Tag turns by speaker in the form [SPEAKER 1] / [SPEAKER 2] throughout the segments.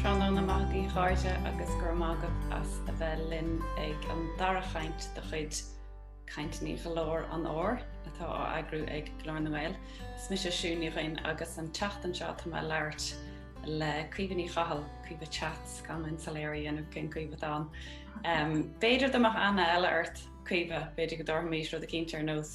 [SPEAKER 1] Tráthnóna maith a chairde agus go raibh maith agat as a bheith linn ag an dara chaint de chuid Cainteanna Glór an Fhómhair atá á eagrú ag Glór na nGael. Is mise Siún Ní Dhuinn agus an tseachtain seo tá mé ag labhairt le Caoimhe Ní Chathail, Caoimhe Chats, gan linn soiléir a dhéanamh cén Caoimhe atá ann. B'fhéidir go mbeadh aithne eile ort Caoimhe, b'fhéidir go dtabharfaimís rud eicínt ar nós.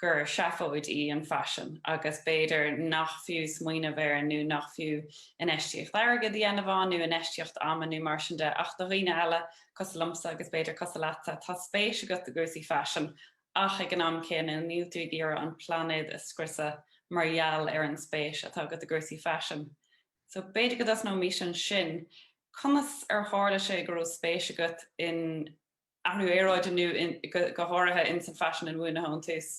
[SPEAKER 1] gur seafóid í an faisean agus b'fhéidir nach fiú smaoineamh air nó nach fiú infheistíocht airgid a dhéanamh ann nó infheistíocht ama nó mar sin de ach do dhaoine eile, cosúil liomsa agus b'fhéidir cosúil leatsa, tá spéis agat i gcúrsaí faisin ach ag an am céanna níl tú ag iarraidh an plainéad a scriosadh mar gheall ar an spéis atá agat i gcúrsaí faisin. So b'fhéidir go dtosnóimis ansin, conas ar tharla sé go raibh spéis agat in. athrú aeráide nó go háirithe ins an faisean inbhuanaithe ón tús.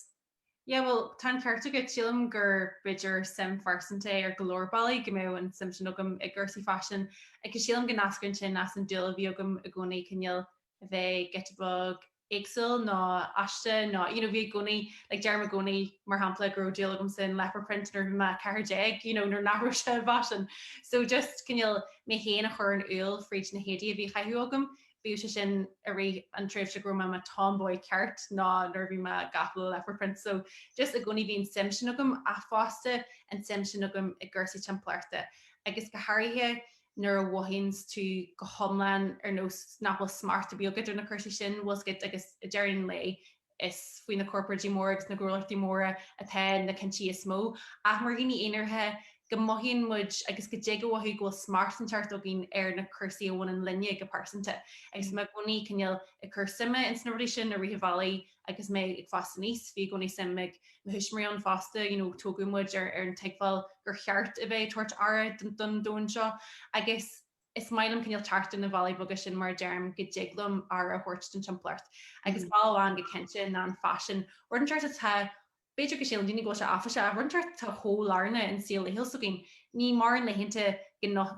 [SPEAKER 1] Yeah
[SPEAKER 2] bhuel tá an ceart agat, sílim gur b'fhéidir suim phearsanta ar go leor bealaí go mbeadh an suim sin agam i gcúrsaí faisin agus sílim go n-eascraíonn sin as an dúil a bhí agam i gcónaí cineál a bheith giota beag éagsúil nó aisteach nó you know, bhí i gcónaí like, deirim i gcónaí mar shampla go raibh dúil agam san leopard print nuair bhí mé 14 you know, nuair nach raibh sé fashion. So just cineál mé héin a chur in iúl fríd na héadaí a bhí á gcaitheamh agam Bíodh sé sin i rith an tréimhse go raibh mé i mo tomboy ceart nó nuair a bhí mé gafa le leopard print so just i gcónaí bhí an suim sin agam ach fosta an tsuim sin agam i gcúrsaí timpeallachta agus go háirithe nuair a mhothaíonns tú go hiomlán ar nós nach bhfuil smacht ar bith agat ar na cúrsaí sin bhfuil 's agat agus ag deireadh an lae Is faoi na corparáidí móra agus na gnólachtaí móra atá na cinntí is mó, ach mar dhaoine aonaracha go mothaíonn muid agus go dtig a mhothú go bhfuil smacht inteacht againn ar na cúrsaí a bhaineann linne go pearsanta. Agus mé i gcónaí cineál ag cur suime ins na rudaí sin i rith an bhealaigh agus mé ag fás aníos. Bhí i gcónaí suim ag mo thuismitheoirí ann fosta, you know tógadh muid ar an tuigbheáil gur cheart a bheith ag tabhairt aire don domhan seo agus. Is maith liom cineál teacht ar na bealaí beaga sin mar deirim go dtig liom aire a thabhairt don timpeallacht. Agus bealach amháin go cinnte ná an faisean. Rud inteacht atá, b'fhéidir go síleann daoine go bhfuil sé áiféiseach ach rud inteacht atá chomh lárnach in saol laethúil s'againn. Níl mórán laethanta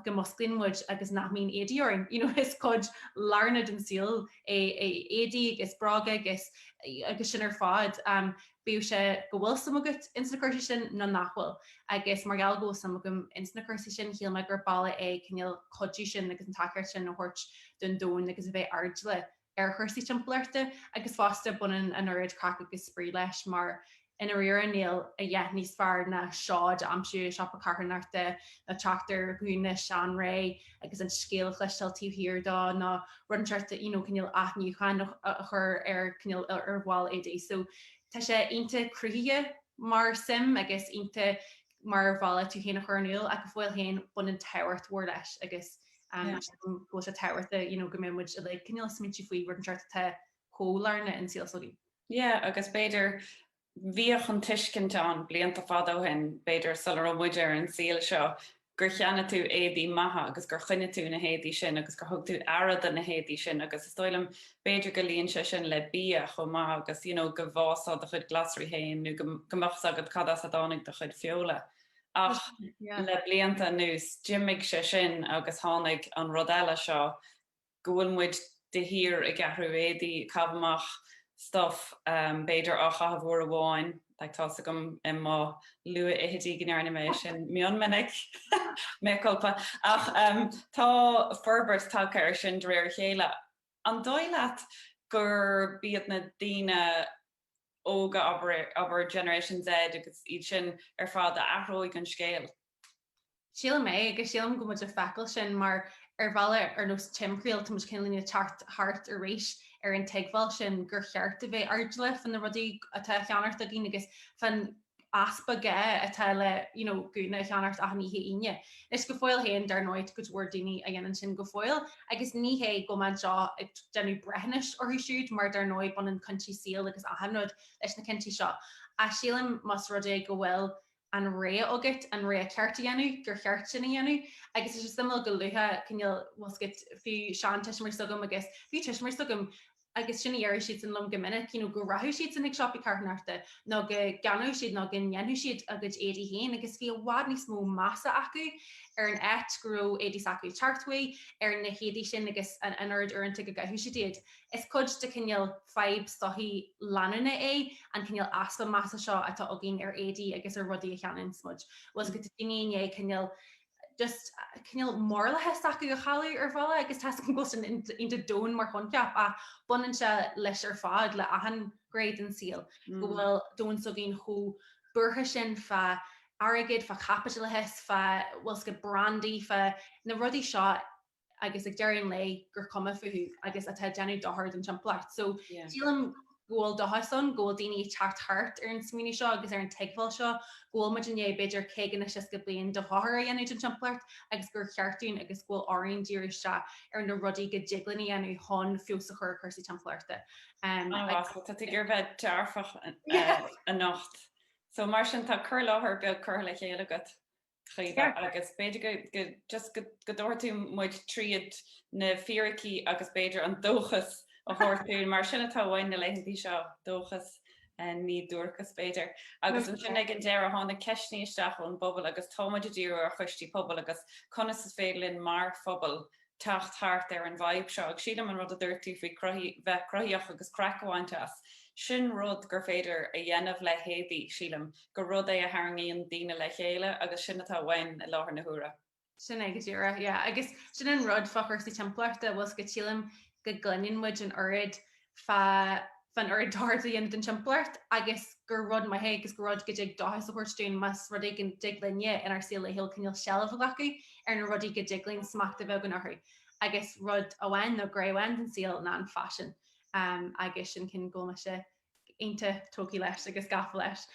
[SPEAKER 2] go musclaíonn muid agus nach mbíonn éadaí orainn. You know is cuid lárnach den saol é éadaí agus bróga agus agus sin ar fad. bíodh sé go bhfuil suim agat ins na cúrsaí sin nó nach bhfuil, agus mar gheall go bhfuil suim agam ins na cúrsaí sin, shíl mé gur bealach é cineál cuidiú sin agus an tacaíocht sin a thabhairt don domhan agus a bheith airdeallach ar chúrsaí timpeallachta agus fosta baineann an oiread craic agus spraoi leis mar i ndáiríre níl a dhath níos fearr ná seod a aimsiú i siopa carthanachta nó teacht ar ghúna seanré agus an scéal a chloisteáil taobh thiar dó ná rud inteacht you know cineál athnuacháin a chur ar cineál ar bhaill éadaigh so tá sé iontach cruthaitheach mar shuim agus iontach mar bhealach tú féin a chur in iúl ach go fóill féin baineann tábhacht mhór leis agus um yeah. go bhfuil sé tábhachtach you know go mbeidh muid uilig cineál ag smaoineamh faoi rud inteacht atá chomh lárnach i saol s'againn. Yeah, agus
[SPEAKER 1] b'fhéidir Bhíodh an tuiscint ann blianta fada ó shin, b'fhéidir sula raibh muid ar an saol seo, gur cheannaigh tú éadaí maithe agus gur choinnigh tú na héadaí sin agus gur thug tú aire do na héadaí sin agus is dóigh liom, b'fhéidir go luíonn sé sin le bia chomh maith agus you know go bhfásfá do chuid glasraí féin nó go mbeadh 's agat cad as a dtáinig do chuid feola ach le blianta anuas d'imigh sé sin agus tháinig an rud eile seo go bhfuil muid de shíor ag ceannach éadaí, ag caitheamh amach stuff, b'fhéidir á chaitheamh uair amháin, like tá's agam i mo luathfhichidí go ndearna mé sin go mion minic, mea culpa, ach tá forbairt tagtha ar sin de réir a chéile. An dóigh leat gurb iad na daoine óga, abair Generation Z agus iad sin ar fad a athróidh an scéal?
[SPEAKER 2] Sílim é agus sílim go bhfuil muid ag feiceáil sin mar ar bhealach ar nós timthriall táimid cineál ag teacht thart arís ar an tuigbheáil sin gur cheart a bheith airdeallach fá na rudaí atá á gceannacht againn agus fán easpa gá atá le you know gúna a cheannacht achan oíche Aoine. Anois go fóill féin dar ndóigh tá go leor daoine a dhéanann sin go fóill agus ní hé go mbeinnse ag déanamh breithiúnais orthu siúd mar dar ndóigh baineann cinntí saoil agus achan rud leis na cinntí seo ach sílim más rud é go bhfuil an rogha agat, an rogha cheart a dhéanamh, gur cheart sin a dhéanamh agus is suimiúil go luann tú cineál, like fiú seantuismitheoirí s'agam agus fiú tuismitheoirí s'agam agus sin a deireadh siadsan liom go minic, you know go rachadh siadsan chuig siopaí carthanachta nó go gceannódh siad nó go ndéanfadh siad a gcuid éadaí féin agus bhí i bhfad níos mó measa acu ar an áit go raibh éadaí s'acu ag teacht uaidh, ar na héadaí sin agus an oiread uaireanta go gcaitheadh siad iad. Is cuid de chineál fadhb sochaí leanúnach é an cineál easpa measa seo atá againn ar éadaí agus ar rudaí a cheannaíonns muid. Bhuel, is go bhfuil daoine i ndiaidh cineál, just, cineál moráltacht s'acu a chailleadh ar bhealach agus tá's agam go bhfuil sin iontach domhan mar choincheap ach baineann sé leis ar fad le achan ghné den saol go bhfuil domhain s'againn chomh buartha sin fá airgead, fá chaipitleachas, fá, bhuel, scoth brandaí, fá na rudaí seo agus ag deireadh an lae gur cuma fúthu agus atá ag déanamh dochar don timpeallacht. So sílim go bhfuil dóchas ann go bhfuil daoine ag teacht thart ar an smaoineamh seo agus ar an tuigbheáil seo go bhfuil muid i ndiaidh b'fhéidir 50 nó 60 bliain de dhochar a dhéanamh don timpeallacht agus gur cheart dúinn agus go bhfuil orainn díriú isteach ar na rudaí go dtig linn a dhéanamh chun feabhas a chur ar chúrsaí timpeallachta. Um, ah, agus-
[SPEAKER 1] Tá tú ag dul a bheith dearfach anocht. So mar sin tá cur i láthair beag curtha le chéile agat. Caoimhe, agus b'fhéidir go, go, just go, go dtabharfaidh tú muid tríd na fíricí agus b'fhéidir an dóchas a thabhairt dúinn, mar sin atá uainn na laethanta seo, dóchas, ní duairceas b'fhéidir. Agus ansin ag an deireadh tháinig ceisteanna isteach ón bpobal agus tá muid ag díriú ar choistí pobail agus conas is féidir linn mar phobal teacht thart ar an bhfadhb seo. Agus sílim an rud a duirt tú faoi bheith cruthaitheach agus craic a bhaint as, sin rud gur féidir a dhéanamh le héadaí, sílim gur rud é a tharraingíonn daoine le chéile agus sin atá uainn i láthair na huaire. Sin é go
[SPEAKER 2] díreach, yeah. Agus sin an rud fá chúrsaí timpeallachta, bhuel is go sílim go gcluineann muid an oiread fán oiread dochar atá á dhéanamh don timpeallacht agus gur rud maith é agus gur rud go dtig dóchas a thabhairt dúinn más rud é go dtig linne inár saol laethúil cineál seilbh a ghlacadh ar na rudaí go dtig linn smacht a bheith againn orthu agus rud amháin nó gné amháin den saol ná an faisean agus sin ceann go bhfuil mise iontach tógtha leis agus gafa leis.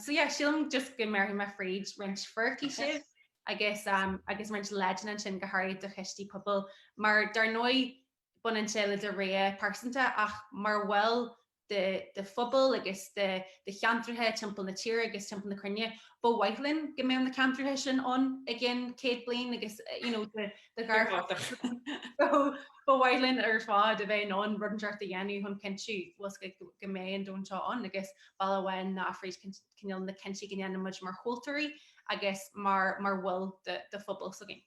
[SPEAKER 2] So yeah, sílim just go mbéarfaidh mé fríd roinnt fíricí sibh agus roinnt leideanna ansin go háirid do choistí pobail mar dar ndóigh Baineann sé le do rogha pearsanta ach mar bhall de do phobal agus de do cheantracha timpeall na tíre agus timpeall na cruinne. Ba mhaith linn go mbeadh na ceantracha sin ann i gceann céad bliain agus you know do ghar ba mhaith linn ar fad a bheith in ann rud inteacht a dhéanamh chun cinntiú was go go mbeidh an domhan seo ann agus bealach amháin ná fríd cineál na cinntí go ndéanaimid mar thomhaltóirí agus mar mar bhaill de phobal s'againn.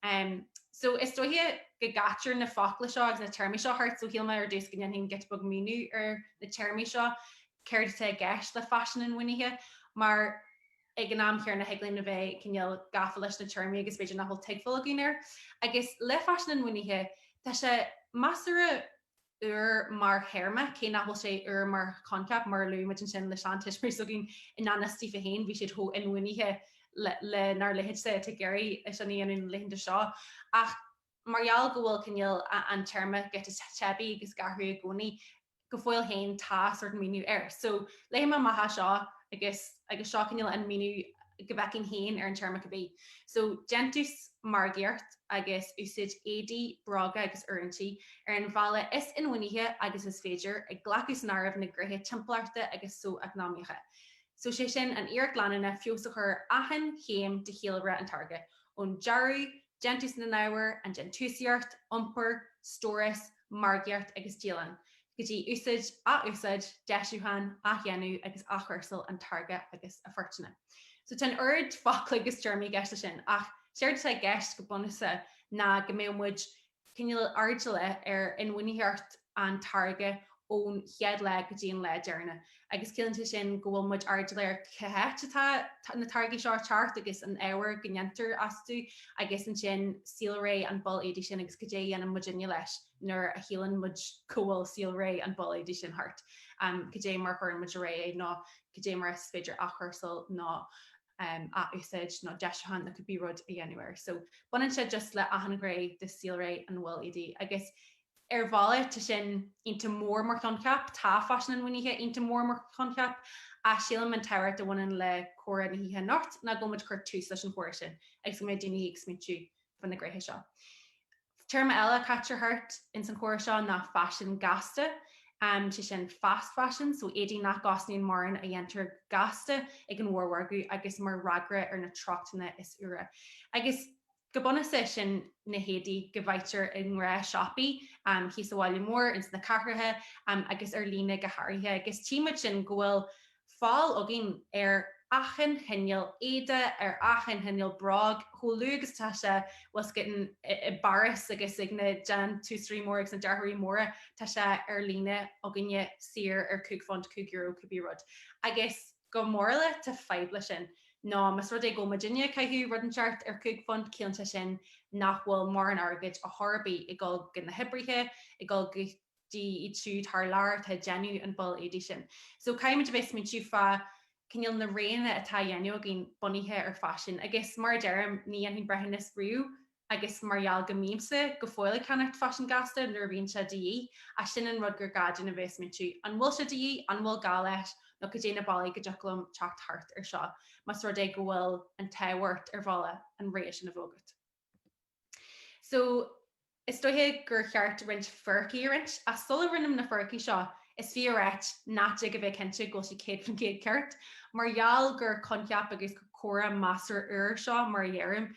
[SPEAKER 2] Em, so, is dóiche go gcaitear na focla seo agus na téarmaí seo thart, so shíl mé ar dtús go ndéanfainn giota beag míniú ar na téarmaí seo, céard atá i gceist le faisean inbhuanaithe, mar ag an am chéanna thig linn a bheith cineál gafa leis na téarmaí agus b'fhéidir nach bhfuil tuigbheáil againn air. Agus le faisean inbhuanaithe, tá sé, measartha, úr mar théarma, cé nach bhfuil sé úr mar choinceap, mar a luaigh muid ansin le seantuismitheoirí s'againn i ngan fhios daofa féin, bhí siad chomh inbhuanaithe lenár leithéidse, atá ag iarraidh é sin a dhéanamh na laethanta seo, ach mar gheall go bhfuil cineál an téarma giota teibí agus ag athrú i gcónaí, go fóill féin tá sórt míniú air. So, léifidh mé amach as seo agus agus seo cineál an míniú go bhfeicfinn féin ar an téarma cibé. So, déantús margaíocht. agus úsáid éadaí, bróga agus oiriúintí ar an bhealach is inbhuanaithe agus is féidir, ag glacadh san áireamh na gnéithe timpeallachta agus socheacnamaíocha. So sé sin an iarracht leanúnach feabhas a chur achan chéim de shaolré an táirge, ón dearadh, déantús na n-ábhar, an déantúsaíocht, iompar, stóras, margaíocht agus díolachán, go dtí úsáid, athúsáid, deisiúchán, athdhéanamh agus athchúrsáil an táirge agus a pháirteanna. So tá an oiread focla agus téarmaí i gceist leis sin ach séard atá i gceist go bunúsach ná go mbeadh muid cineál airdeallach ar inbhuanaitheacht an táirge ón chéad lá go dtí an lá deireanach. agus ciallaíonn sé sin go bhfuil muid airdeallach ar cé h-áit atá na táirgí seo a teacht agus an ábhar go ndéantar astu iad agus ansin saolré an ball éadaigh sin agus goidé a dhéanann muidinne leis nuair a shíleann muid go bhfuil saolré an ball éadaigh sin thart, goidé mar a chuireann muid ar aghaidh é nó goidé mar is féidir athchúrsáil nó. nó athúsáid nó deiseacháin that could be rud a dhéanamh air. So baineann sé just le achan ghné de saolré an bhaill éadaigh agus ar bhealach tá sin iontach mór mar choincheap, tá faisin inbhuanaithe iontach mór mar choincheap ach sílim an tábhacht a bhaineann le comhrá na hoíche anocht ná go bhfuil muid ag cur tús leis an chomhrá sin agus go mbeidh daoine ag smaointiú fá na gnéithe seo. Téarma eile a caitear thart ins an chomhrá seo ná faisean gasta, sé sin fast fashion, so éadaí nach gcosnaíonn mórán a dhéantar gasta ag an mhórmhargadh agus mar fhreagra ar na treochtanna is úire. Agus go bunúsach sin na héadaí go bhfaightear i ngnáthshiopaí thíos sa bhaile mór, ins na cathracha agus ar líne go háirithe. Agus tchí muid sin go bhfuil fáil againn ar achan chineál éide, ar achan chineál bróg, chomh luath agus atá sé was getting i bPáras agus ag na déantúsóirí móra agus na dearthóirí móra, tá sé ar líne againne saor ar chúig phunt, cúig euro, cúpla rud. Agus go morálta, tá fadhb le sin. Nó más rud é go bhfuil muidinne ag caitheamh rud inteacht ar chúig phunt, ciallaíonn sé sin nach bhfuil mórán airgid a chor ar bith ag dul go na hoibrithe, ag dul go. iad siúd thar lear atá ag déanamh an bhall éadaigh sin. So caithfidh muid a bheith ag smaointiú fá cineál na roghanna atá á dhéanamh againn bunaithe ar faisean. Agus mar a deirim, ní dhéanaim breithiúnas riamh agus mar gheall go mbímse go fóill ag ceannacht faisean gasta nuair a bhíonn sé de dhíth, ach sin an rud gur gá dúinn a bheith ag smaointiú, an bhfuil sé de dhíth, an bhfuil gá leis, nó cad é na bealaí go dtiocfadh liom teacht thart ar seo más rud é go bhfuil an tábhacht ar bhealach an rogha sin a bheith agat. So, is dóiche gur cheart roinnt fíricí a roinnt, ach sula roinnim na fíricí seo, is fiú a ráit nach dtig a bheith cinnte go bhfuil siad céad faoin gcéad ceart, mar gheall gur coincheap agus gur comhrá measartha úr seo, mar a dheirim,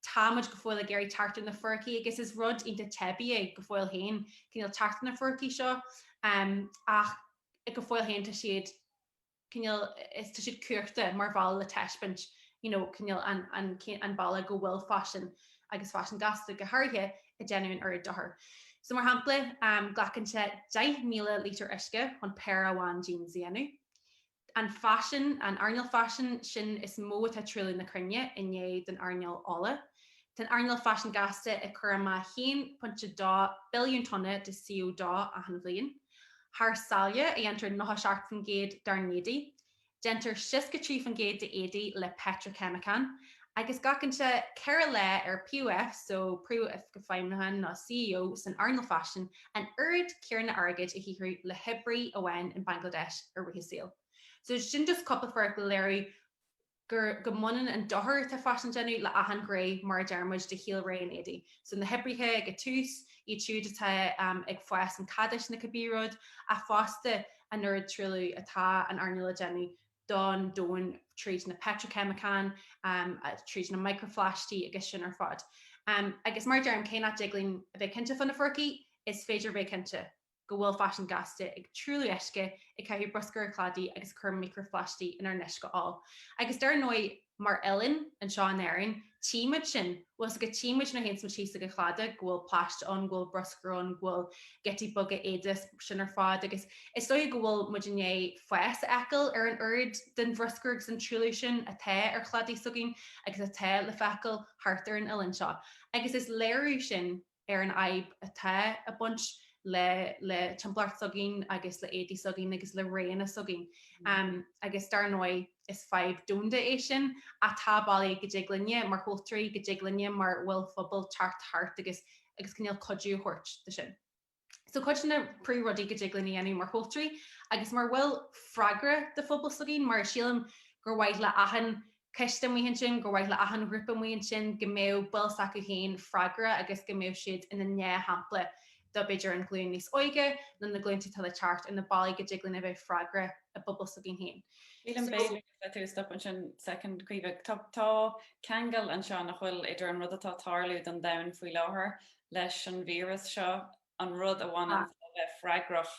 [SPEAKER 2] tá muid go fóill ag iarraidh teacht ar na fíricí agus is rud iontach teibí é go fóill féin, cineál teacht ar na fíricí seo, ach go fóill féin tá siad. cineál, is, tá siad curtha mar bhealach le taispeáint you know cineál an, an, an bealach go bhfuil faisean agus faisean gasta go háirithe ag déanamh an oiread dochair. So mar shampla glacann sé 10,000 lítear uisce chun péire amháin jeans a dhéanamh. An faisean, an earnáil faisin, sin is mó atá ag truailliú na cruinne i ndiaidh don earnáil ola. Tá an earnáil faisin gasta ag cur amach 1.2 billiún tonna de CO2 achan bhliain. thar sáile a dhéantar 97% dár n-éadaí. Déantar 63% d'éadaí le peitriceimiceáin, agus glacann sé 4 lá ar POF so, Príomh-Oifig Feidhmiúcháin nó CEO san earnáil faisin, an oiread céanna airgid a shaothrú le hoibrí amháin in Bangladesh i rith a saoil. So sin just cúpla fíric le léiriú. gur go mbaineann an dochar atá faisean a déanamh le achan ghné mar a deir muid de shaolré an éadaí, so na hoibrithe ag a tús, iad siúd atá ag fás an chadáis nó cibé rud, ach fosta an oiread truailliú atá an earnáil a déanamh don domhain tríd na peitriceimiceáin, tríd na micreaphlaistigh agus sin ar fad. Agus mar a deir muid cé nach dtig linn a bheith cinnte fá na fíricí, is féidir bheith cinnte. go bhfuil faisean gasta ag truailliú uisce, ag caitheamh bruscair ar chladaí agus ag cur micreaphlaistigh inár n-uisce óil. Agus dar ndóigh, mar oileán, anseo in Éirinn, tímid sin, bhuel, go tímid nuair théann tú síos ag an chladach, go bhfuil plaistigh ann, go bhfuil bruscar ann, go bhfuil giotaí beaga éadaí is sin ar fad agus is dóigh go bhfuil muid i ndiaidh fás a fheiceáil ar an oiread den bhruscar agus den truailliú sin atá ar chladaí s'againn agus atá le feiceáil thart ar an oileán seo agus is léiriú sin ar an fhadhb atá a' baint le, le timpeallacht s'againn agus le éadaí s'againn agus le roghanna s'againn. Am, agus dar ndóigh is fadhb domhanda é sin, ach tá bealaí go dtig linne mar thomhaltóirí, go dtig linne mar bhaill phobail teacht thart agus, agus cineál cuidiú a thabhairt do sin. So cuid de na príomh rudaí go dtig linn a dhéanamh mar thomhaltóirí agus mar bhaill freagracha de phobail s'againn, mar sílim gur mhaith le achan coiste amuigh ansin, gur mhaith le achan ghrúpa amuigh ansin go mbeadh baill s'acu féin freagrach agus go mbeadh siad ina ndea-shampla do b'fhéidir an ghlúin níos óige nó na glúinte atá le teacht ar na bealaí go dtig linn a bheith freagrach i bpobal s'againn féin. So, b'fhéidir
[SPEAKER 1] tú a stopadh ansin second, a Chaoimhe, tá, tá ceangal anseo nach bhfuil idir an rud atá ag tarlú don domhan faoi láthair leis an víras seo an rud a bhain le bheith freagrach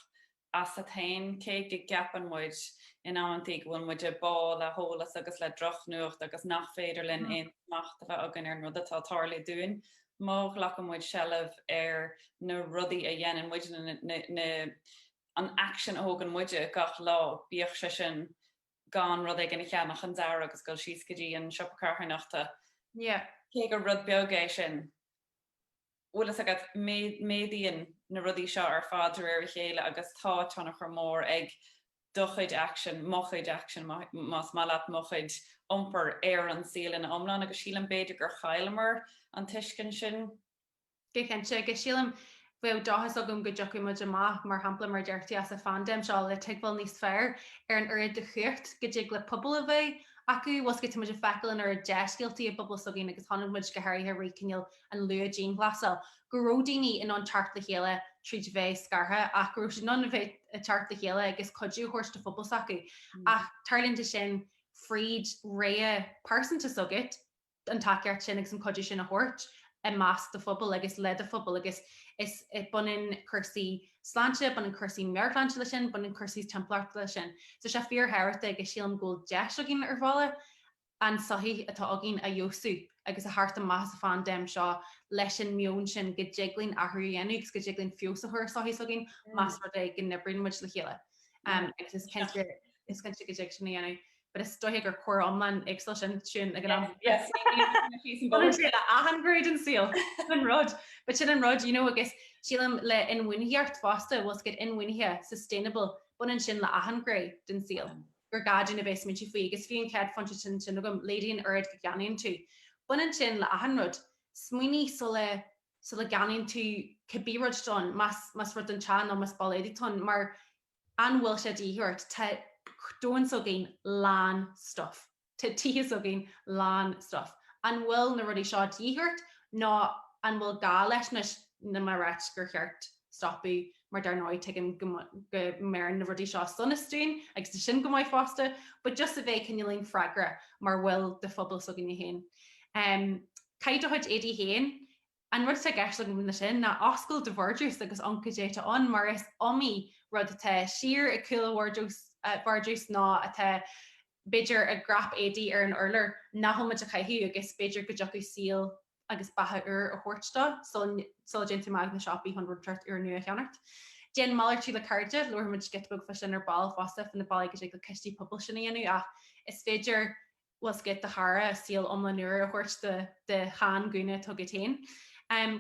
[SPEAKER 1] asat féin. Cé go gceapann muid in amanntaí go bhfuil muid ag báthadh le heolas agus le drochnuacht agus nach féidir linn aon smacht a bheith againn ar an rud atá ag tarlú dúinn, má ghlacann muid seilbh ar na rudaí a dhéanann muidne, na, an action a thógann muide gach lá, bíodh sé sin gan rud éigin a cheannach an dara uair agus dul síos go dtí an siopa carthanachta, cé gur rud beag é sin. bhfuil fhios agat, méadaíonn na rudaí seo ar fad de réir a chéile agus tá tionchar mór ag do chuid action, mo chuid action más maith leat, mo chuid iompair ar an saol ina iomlán agus sílim b'fhéidir gur chailleamar an tuiscint sin. Go
[SPEAKER 2] cinnte, agus sílim bheadh dóchas agam go dtiocfaidh muid amach, mar shampla mar a deir tú, as an phandéim seo le tuigbheáil níos fearr ar an oiread de chumhacht go dtig le pobal a bheith acu, bhuel, 's go, tá muid ag feiceáil an oiread dea-scéaltaí i bpobal s'againn agus chonaic muid go háirithe roimh cineál an luath-dianghlasáil, go raibh daoine in ann teacht le chéile tríd a bheith scartha ach go raibh siad in ann a bheith ag teacht le chéile agus cuidiú a thabhairt do phobal s'acu. Ach tarlaíonn sé sin fríd réimse pearsanta s'agat, an tacaíocht sin agus an cuidiú sin a thabhairt i measc do phobail agus le do phobal agus is, baineann cúrsaí sláinte, baineann cúrsaí meabharshláinte leis sin, baineann cúrsaí timpeallachta leis sin. So tá sé fíor-thábhachtach agus sílim go bhfuil deis againn ar bhealach. an sochaí atá againn a fheabhsú agus a thabhairt amach as an phaindéim seo leis an meon sin go dtig linn athrú a dhéanamh agus go dtig linn feabhas a chur ar sochaí s'againn más rud é go n-oibríonn muid le chéile agus is cinnte is cinnte go dtig sin a dhéanamh but is dóiche gur comhrá iomlán éagsúil sin sin ag an am yes achan gné den saol an rud but sin an rud you know agus sílim le inbhuanaitheacht fosta bhuel is cad inbhuanaithe sustainable baineann sin le achan gné den saol gur gá dúinn a bheith ag smaointiú faoi agus bhí an chéad phointe sin sin agam, laghdaigh an oiread go gceannaíonn tú. Baineann sin le achan rud. Smaoinigh sula, sula gceannaíonn tú cibé rud atá ann, más, más rud don teach nó más ball éadaigh atá ann mar an bhfuil sé de dhíth ort? Tá domhan s'againn lán stuff. Tá tithe s'againn lán stuff. An bhfuil na rudaí seo de dhíth ort nó an bhfuil gá leis anois? Níl mé ag ráit gur cheart. stopadh mar dar ndóigh tuigim go mbeir na rudaí seo sonas dúinn agus tá sin go maith fosta but just a bheith cineáilín freagrach mar bhaill de phobal s'againne féin. Um, caith do chuid éadaí féin, an rud atá i gceist agam leis sin ná oscail do vardrús agus amharc cad é atá ann mar is iomaí rud atá siar ag cúl an vardrús, vardrús nó atá b'fhéidir i gcnap éadaí ar an urlár, nach bhfuil muid ag caitheamh agus b'fhéidir go dtiocfadh saol agus beatha úr a thabhairt dó sula dtéann tú amach chuig na siopaí chun rud éigineacht úr nua a cheannacht. Déan malartú le cairde, labharfaimid giota beag fá sin ar ball fosta faoi na bealaí go dtig le coistí pobail sin a dhéanamh ach is féidir, bhuel is thig le do chara saol iomlán úr a thabhairt do do shean gúna atá agat féin.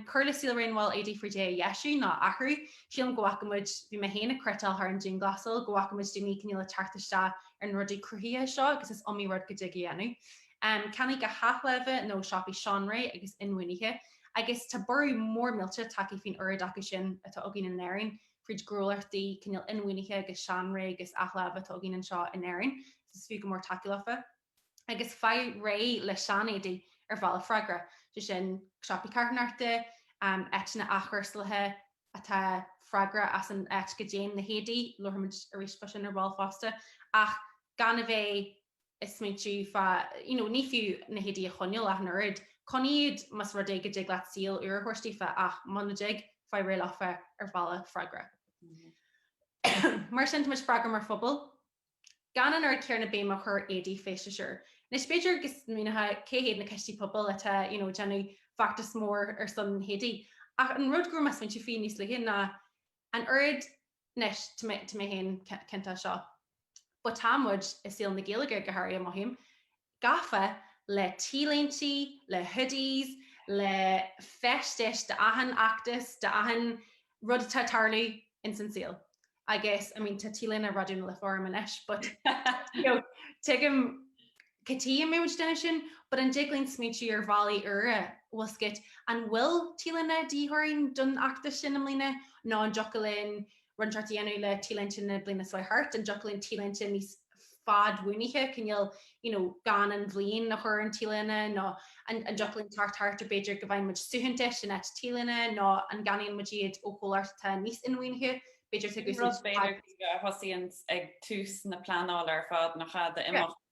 [SPEAKER 2] Cuir le saol raon bhaill éadaí fríd é a dheisiú nó a athrú. Sílim go bhfacaimid, bhí mé féin ag cniotáil thar an dianghlasáil, go bhfacaimid daoine ag cineál ag teacht isteach ar na rudaí cruthaitheacha seo agus is iomaí rud go dtig a dhéanamh. ceannaigh go hathláimhe nó siopaí seanré agus inbhuanaithe, agus tá borradh mór millte tagtha faoin oiread acu sin atá againn in Éirinn, fríd gnólachtaí cineál inbhuanaithe agus seanré agus athláimhe atá againn anseo in Éirinn, so is fiú go mór tacaíocht leofa. Agus faigh réidh le seanéadaí ar bhealach freagrach, sé sin siopaí carthanachta, áiteanna athchúrsálaithe atá freagrach as an áit go dtéann na héadaí, labharfaimid arís fá sin ar ball fosta, ach gan a bheith. a smaointiú fá you know ní fiú na héadaí a choinneáil ach an oiread, coinnigh iad más rud é go dtig leat saol úr a thabhairt daofa ach muna dtig, faigh réidh leofa ar bhealach freagrach. Mar sin tá muid freagrach mar phobal gan an oiread céarna béime a chur éadaí feisteas úr. Anois b'fhéidir go smaoineofá cé hiad na coistí pobail atá you know ag déanamh feachtas mór ar son éadaí ach an rud go raibh mé ag smaointiú faoi níos luaithe ná An oiread, anois, tá mé, tá mé féin ciontach as seo, but tá muid, i saol na Gaeilge go háirithe, mothaím, gafa le T-léintí, le hoodies, le feistis d'achan fheachtas, d'achan rud atá ag tarlú ins an saol. I guess, I mean, tá T-léine Raidió na Life orm anois, but, you know, tuigim, cad chuige a mbíonn muid ag déanamh sin, but an dtig linn smaointiú ar bhealaí úra, bhfuil a fhios agat, an bhfuil T-léine de dhíth orainn don fheachtas sin i mbliana nó an dtiocfadh linn roinnt thart a dhéanamh le T-léinte na bliana seo thart, an dtiocfadh linn T-léinte níos fadbhuanaithe, cineál, you know, gan an bhliain a chur ar an T-léine nó an dtiocfadh linn teacht thart ar b'fhéidir go bhfaigheann muid suaitheantais in áit T-léine nó an gceannaíonn muid iad ó chomhlacht atá níos inbhuanaithe? b'fhéidir tugadh Sin rud b'fhéidir daoibh a
[SPEAKER 1] thosaíonn ag tús na pleanála ar fad nach ea d'imeacht.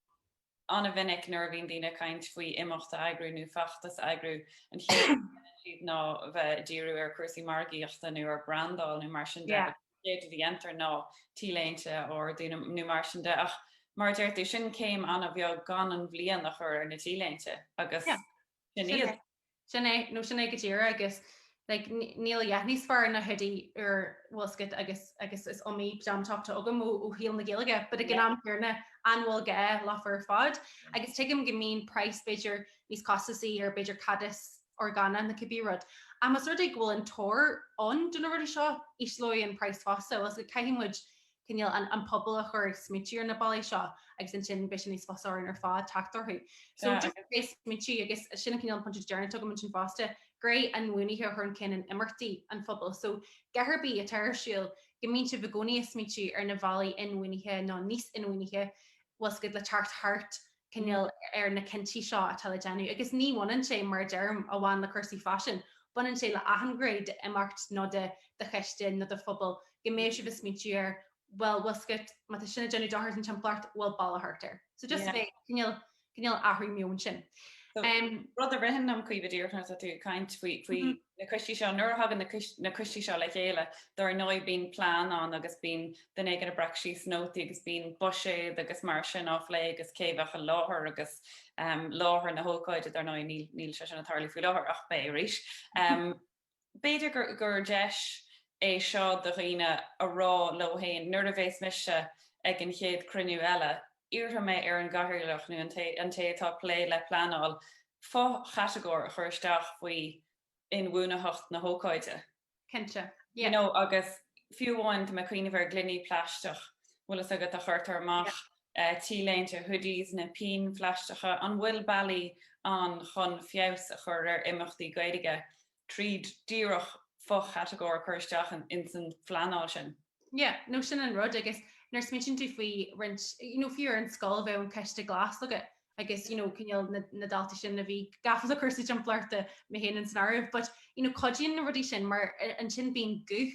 [SPEAKER 1] An-mhinic nuair a bhíonn daoine ag caint faoi imeacht a eagrú nó feachtas a eagrú, an chéad rud a dhéanann siad ná bheith ag díriú ar chúrsaí margaíochta nó ar brandáil nó mar sin de agus an chéad a dhéantar ná T-léinte a ordú nó mar sin de ach mar a deir tú, sin céim an-bheag gan an bhliain a chur ar na T-léinte agus sin iad.
[SPEAKER 2] Sin é, nó sin é go díreach agus níl a dhath níos fearr ná hoodie úr, bhfuil a fhios agat, agus agus is iomaí pajama top atá agam ó shaol na Gaeilge, but ag an am céarna an bhfuil gá leofa ar fad? Agus tuigim go mbíonn praghas b'fhéidir níos costasaí ar b'fhéidir cadas orgánach nó cibé rud, ach más rud é go bhfuil an tóir ann do na rudaí seo, ísleoidh an praghas fosta, bhfuil a fhios agat, caithfidh muid cineál an pobal a chur ag smaointiú ar na bealaí seo agus ansin beidh sé níos fusa orainn ar fad teacht orthu. So just a bheith ag smaointiú agus sin an cineál pointe deireanach atá agam ansin fosta, gné inbhuanaithe a chur chun cinn in imeachtaí an phobail. So cé ar bith atá ar siúl go mbíonn sibh i gcónaí ag smaointiú ar na bhealaí inbhuanaithe nó níos inbhuanaithe, bhfuil a fhios agat, le teacht thart cineál ar na cinntí seo atá le déanamh agus ní bhaineann sé, mar a deirim, amháin le cúrsaí faisin, baineann sé le achan ghné d'imeacht nó de do choiste nó do phobal go mbeidh sibh ag smaointiú ar bhuel, bhfuil a fhios agat, má tá sin ag déanamh dochar don timpeallacht, bhfuil bealach thart air. So just a bheith, cineál, cineál athrú meoin sin.
[SPEAKER 1] Rud a ritheann liom, Caoimhe, díreach nuair atá tú ag caint faoi, faoi, na coistí seo. Nuair a thagann na coistí seo le chéile, dar ndóigh bíonn plean ann agus bíonn duine éigin a' breac síos nótaí agus bíonn buiséad agus mar sin á phlé agus cé bheadh i láthair agus láthair na hócáide, dar ndóigh níl sé sin a' tarlú faoi láthair ach beidh arís. B'fhéidir gur deis é seo do dhaoine a rá leo fhéin nuair a bhéas mise ag an chéad cruinniú eile, Iarrfaidh mé ar an gCathaoirleach, nó an té atá ag plé le pleanáil, fo-chatagóir a chur isteach faoi inbhuanaitheacht na hócáide. Cinnte. Yeah.
[SPEAKER 2] You know, agus
[SPEAKER 1] fiú amháin, tá mé ag cuimhneamh ar gloiní plaisteach, bhfuil fhios agat, a chuirtear amach, T-léinte, hoodies, na pinn phlaisteacha, an bhfuil bealaí ann chun feabhas a chur ar imeachtaí Gaeilge tríd díreach fo-chatagóir a chur isteach ins an phleanáil sin. Yeah, no sin an
[SPEAKER 2] rud agus nuair smaoitíonn tú faoi roinnt, you know, fiú ar an scoil bheadh an coiste glas agat agus, you know, cineál na, na daltaí sin a bhí gafa le cúrsaí timpeallachta, mé fhéin ins an áireamh, but, you know, cuidíonn na rudaí sin mar ansin bíonn guth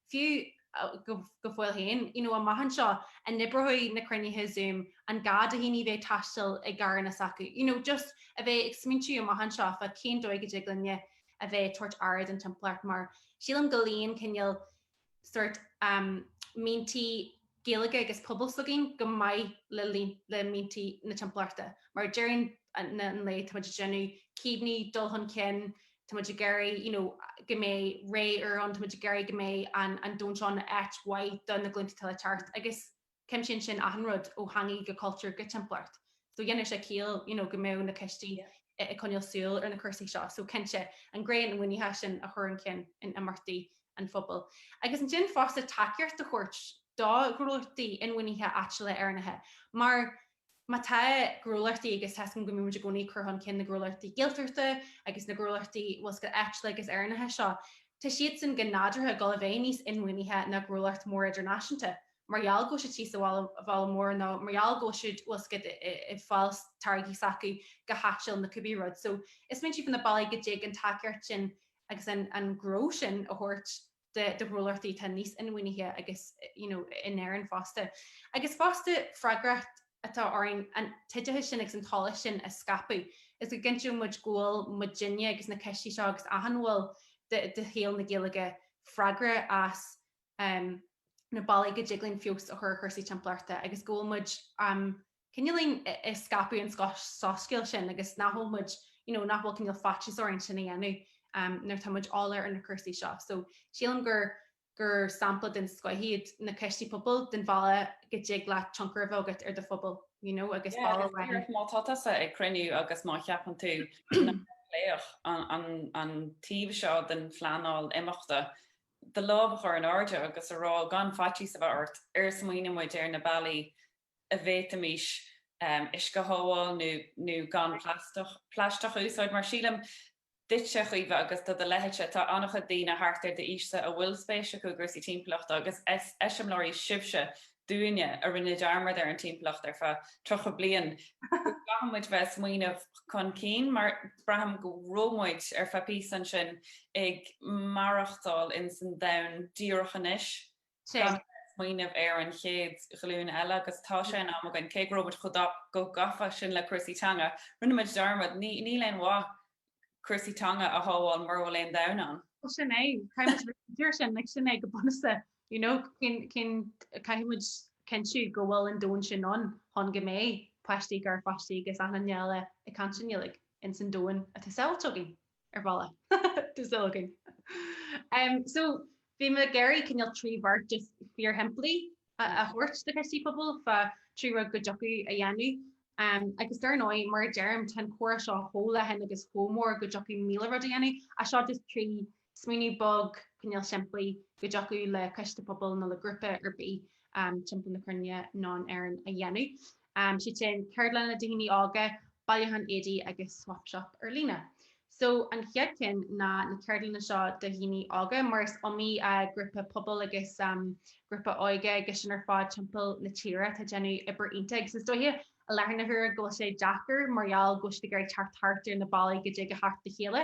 [SPEAKER 2] fiú go fóill féin, you know amach anseo, an n-oibreoidh na cruinnithe Zoom, an gá do dhaoine bheith ag taisteal i gcarranna s'acu, you know just a bheith ag smaointiú amach anseo fá cén dóigh a dtig linne a bheith ag tabhairt aire don timpeallacht mar sílim go luíonn cineál sort, em, mianta Gaeilge agus pobal s'againn go maith le le mianta na timpeallachta. Mar ag deireadh an lae táimid ag déanamh céimeanna dul chun cinn, táimid ag iarraidh you know go mbeidh ré úr ann, táimid ag iarraidh go mbeidh an an domhan seo ina áit mhaith do na glúnta atá le teacht agus cuimsíonn sin achan rud ó theangaí go cultúr go timpeallacht. so dhéanfadh sé ciall you know go mbeadh na coistí ag coinneáil súil ar na cúrsaí seo so cinnte an gné inbhuanaithe sin a chur chun cinn in imeachtaí an phobail agus ansin fosta tacaíocht a thabhairt do ghnólachtaí inbhuanaithe áitiúla Éireannacha mar má tá gnólachtaí agus tá a fhios againn go mbímid i gcónaí cur chun cinn na gnólachtaí Gaeltachta agus na gnólachtaí bhfuil fhios agat áitiúla agus Éireannacha seo tá siadsan go nádúrtha ag dul a bheith níos inbhuanaithe ná gnólacht mór idirnáisiúnta mar gheall go bhfuil siad thíos sa bhaile mór nó mar gheall go bhfuil siad bhfuil siad ag fáil táirgí s'acu go háitiúil nó cibé rud. So smaointigh fá na bealaí go dtig an tacaíocht sin agus an an gnó sin a thabhairt do do ghnólachtaí atá níos inbhuanaithe agus you know in Éirinn fosta. Agus fosta freagracht atá orainn an t-oideachas sin agus an t-eolas sin a scaipeadh is go gcinnteoidh muid go bhfuil muidinne agus na coistí seo agus achan bhall de shaol na Gaeilge freagrach as na bealaí go dtig linn feabhas a chur ar chúrsaí timpeallachta agus go bhfuil muid cineál ag scaipeadh an soiscéal sin agus nach bhfuil muid, you know, nach bhfuil cineál faitíos orainn sin a dhéanamh nuair atá muid eolach ar na cúrsaí seo. So sílim gur gur sampla den scoth iad na coistí pobail, den bhealach go dtig leat tionchar a bheith agat ar do phobal, you know, agus bealach amháin. Yeah, is dóigh liom má tá
[SPEAKER 1] tusa ag cruinniú agus má cheapann tú nach mbeadh an taobh seo den phleanáil imeachta do lámh a chur in airde agus a rá gan faitíos a bheith ort, ar smaoinigh muid ar na bealaí a bhféadfaimis uisce a shábháil nó gan plaisteach a úsáid mar sílim duitse a Chaoimhe agus do do leithéidse tá an-chuid daoine thart ar d'aois-sa a bhfuil spéis acu i gcúrsaí timpeallachta agus eiseamláirí sibhse dúinne a rinne dearmad ar an timpeallacht ar feadh 30 bliain go gcaithfidh muid bheith ag smaoineamh chun cinn mar braithim go raibh muid ar feadh píosa ansin ag maireachtáil in san domhan díreach anois gan bheith ag smaoineamh ar an chéad ghlúin eile agus tá sé in am againn cé go raibh muid chomh gafa sin le cúrsaí teanga rinne muid dearmad níl aon mhaith cúrsaí teanga a shábháil mura bhfuil aon domhan ann. Bhuel sin é,
[SPEAKER 2] caithfimid rith go dtí sin, like sin é go bunúsa, you know, cén, cén, caithfimid cinntiú go bhfuil an domhan sin ann chun go mbeidh páistí, garpháistí agus achan duine eile ag caint i nGaeilge ins an domhan atá sábháilte againn, ar bhealach, atá sábháilte againn. So bhí mé ag iarraidh cineál trí bheart just fíorshimplí a thabhairt do choistí pobail fá trí rud go dtiocfadh a dhéanamh. Agus dar ndóigh, mar a deirim, tá an comhrá seo chomh leathan agus chomh mór go dtiocfadh míle rud a dhéanamh ach seo just trí smaoineamh beag cineál simplí go dtiocfadh le coiste pobail nó le grúpa ar bith timpeall na cruinne nó in Éirinn a dhéanamh. um, is iad sin ceardlanna do dhaoine óga, bailiúchán éadaí agus swap shop ar líne. So an chéad cheann ná na ceardlanna seo do dhaoine óga mar is iomaí uh, grúpa pobail agus um, grúpa óige agus sin ar fad timpeall na tíre atá ag déanamh obair iontach agus is dóiche i láthair na huaire go bhfuil sé deacair mar gheall go bhfuil siad ag teacht thart ar na bealaí go dtig leo teacht le chéile.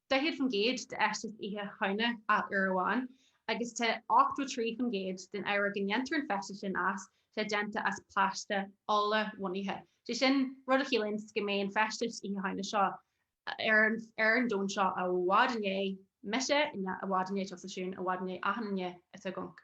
[SPEAKER 2] 40% d'fheisteas Oíche Shamhna aon uair amháin agus tá 83% den ábhar go ndéantar an feisteas sin as, tá sé déanta as plaisteach ola-bhunaithe. Sé sin, rud a chiallaíonns go mbeidh an feisteas Oíche Shamhna seo ar an ar an domhan seo i bhfad i ndiaidh mise i ndiaidh i bhfad i ndiaidh tusa Siún i bhfad i ndiaidh achan duine atá i gcónc.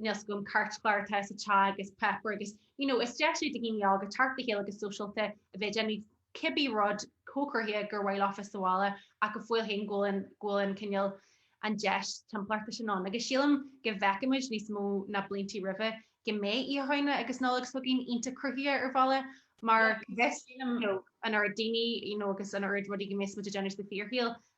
[SPEAKER 2] Níl fhios agam cairtchlár atá sa teach agus páipéar agus you know, is deis é do dhaoine óga teacht le chéile go sóisialta a bheith ag déanamh cibé rud chomh cruthaitheach gur mhaith leo féin sa bhaile ach go fóill féin go bhfuil an, go bhfuil an cineál, an deis timpeallachta sin ann. Agus sílim go bhfeicfimid níos mó ná blianta roimhe go mbeidh Oíche Shamhna agus Nollaig seo chugainn iontach cruthaitheach ar bhealach mar, bheith, you know, an oiread daoine, you know, agus an oiread rudaí go mbeidh muid ag déanamh sa fíorshaol.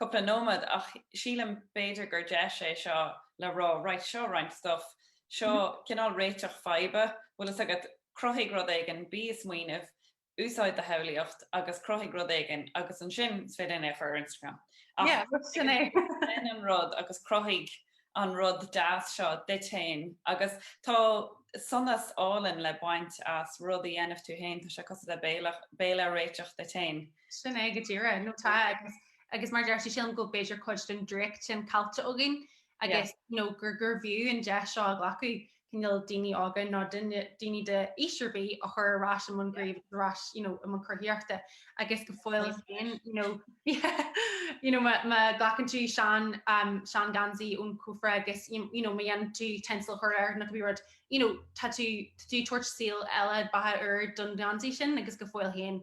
[SPEAKER 1] cúpla nóiméad ach sílim b'fhéidir gur deis é seo le rá right seo roinnt stuff, seo cineál réiteach faidhbe, bhfuil fhios agat, cruthaigh rud éigin, bí ag smaoineamh, úsáid do shamhlaíocht agus cruthaigh rud éigin agus ansin is féidir linn é a chur ar Instagram ach sin an rud agus cruthaigh an rud deas seo duit féin agus tá sonas álainn le baint as rud a dhéanamh tú féin, tá sé cosúil le béile réiteach duit féin. Sin é go
[SPEAKER 2] díreach, nó tá, agus mar a deir tú, sílim go bhfuil b'fhéidir cuid den draíocht sin caillte againn agus, you know, gurbh fhiú an deis seo a ghlacadh cineál daoine óga nó daoine d'aois ar bith a chur ar ais i mbun gnímh agus ar ais i mbun cruthaíochta agus go fóill féin you know má ghlacann tú sean seangheansaí ón chófra agus you know má dhéanann tú tinsel a chur air nó cibé rud you know tá tú ag tabhairt saol eile beatha úr don gheansaí sin agus go fóill féin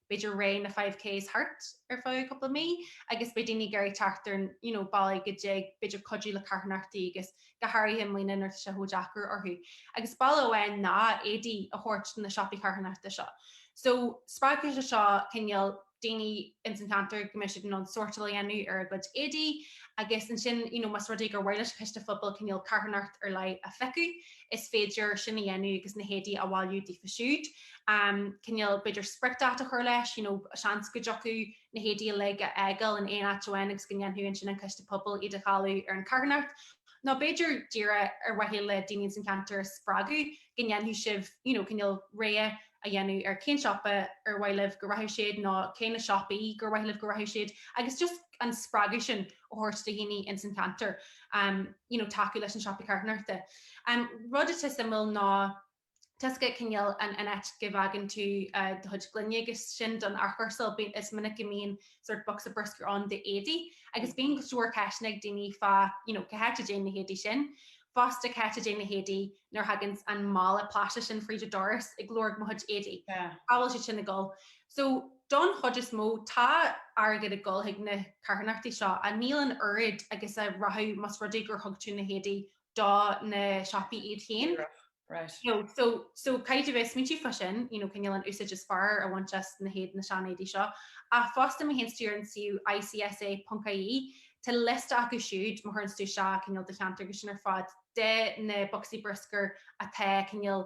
[SPEAKER 2] b'fhéidir ré na five Ks thart ar feadh cúpla mí agus beidh daoine ag iarraidh teacht ar you know bealaí go dtig b'fhéidir cuidiú le carthanachtaí agus go háirithe i mbliana nuair atá sé chomh deacair orthu agus bealach amháin ná éadaí a thabhairt do na siopaí carthanachta seo so spreagfaidh sé seo cineál daoine ins an cheantar go mbeidh siad in ann sórtáil a dhéanamh ar a gcuid éadaí agus ansin you know más rud é gur mhaith leis an choiste pobail cineál carthanacht ar leith a phiocadh is féidir sin a dhéanamh agus na héadaí a bhailiú daofa siúd. cineál b'fhéidir spriocdháta a chur leis, you know, seans go dtiocfadh na héadaí uilig a fhágáil in aon áit amháin agus go ndéanfadh ansin an coiste pobail iad a dháileadh ar an charthanacht. Nó b'fhéidir díreach ar mhaithe le daoine ins an cheantar a spreagadh go ndéanfadh sibh, you know, cineál rogha a dhéanamh ar cén siopa ar mhaith libh go rachadh siad nó cé na siopaí gur mhaith libh go rachadh siad agus just an spreagadh sin a thabhairt do dhaoine ins an cheantar, you know, tacú leis an siopa carthanachta. Rud atá suimiúil ná tá's agat cineál an áit go bhfágann tú do chuid gloine agus sin don athchúrsáil bíonn is minic go mbíonn sort of bocsa bruscair ann do éadaí agus bíonn go leor ceisteanna ag daoine fá you know cá háit a dtéann na héadaí sin fosta cá háit a dtéann na héadaí nuair a thagann an mála plaisteach sin fríd do doras ag lorg mo chuid éadaí cá bhfuil siad sin ag dul so don chuid is mó tá airgead ag dul chuig na carthanachtaí seo ach níl an oiread agus a rachadh mas rud é gur thug tú na héadaí do na siopaí iad
[SPEAKER 1] féin.
[SPEAKER 2] So caithfidh a bheith smaointiú fá sin, you know, cineál an úsáid is fearr a bhaint as na héad, na seanéadaí seo. Ach fosta má théanns tú ar an suíomh ICSA.ie, tá liosta acu siúd, má chuireanns tú isteach cineál do cheantar agus sin ar fad, de na bocsaí bruscair atá cineál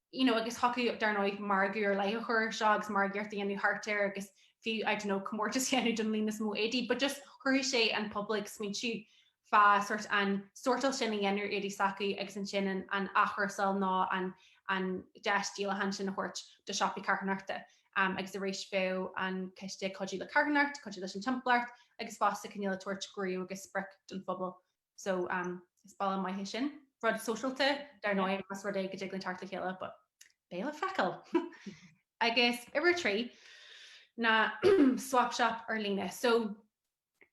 [SPEAKER 2] you know agus thiocfaí dar ndóigh margadh ar leith a chur ar seo agus margaíocht a dhéanamh thart air agus fiú I don't know comórtas a dhéanamh don líon is mó éadaí but just chuirfeadh sé an pobal ag smaointiú fá sort an sórtáil sin a dhéanamh ar éadaí s'acu agus ansin an an athchúrsáil nó an an deis díolacháin sin a thabhairt do siopaí carthanachta um agus arís bheadh an coiste ag cuidiú le carthanacht, cuidiú leis an timpeallacht agus fosta cineál ag tabhairt gníomh agus sprioc don phobal So is bealach maith é sin. Rud sóisialta, dar ndóigh, más rud é go dtig linn teacht le chéile, but beidh le feiceáil! Agus uimhir a trí ná Swap Shop ar líne. So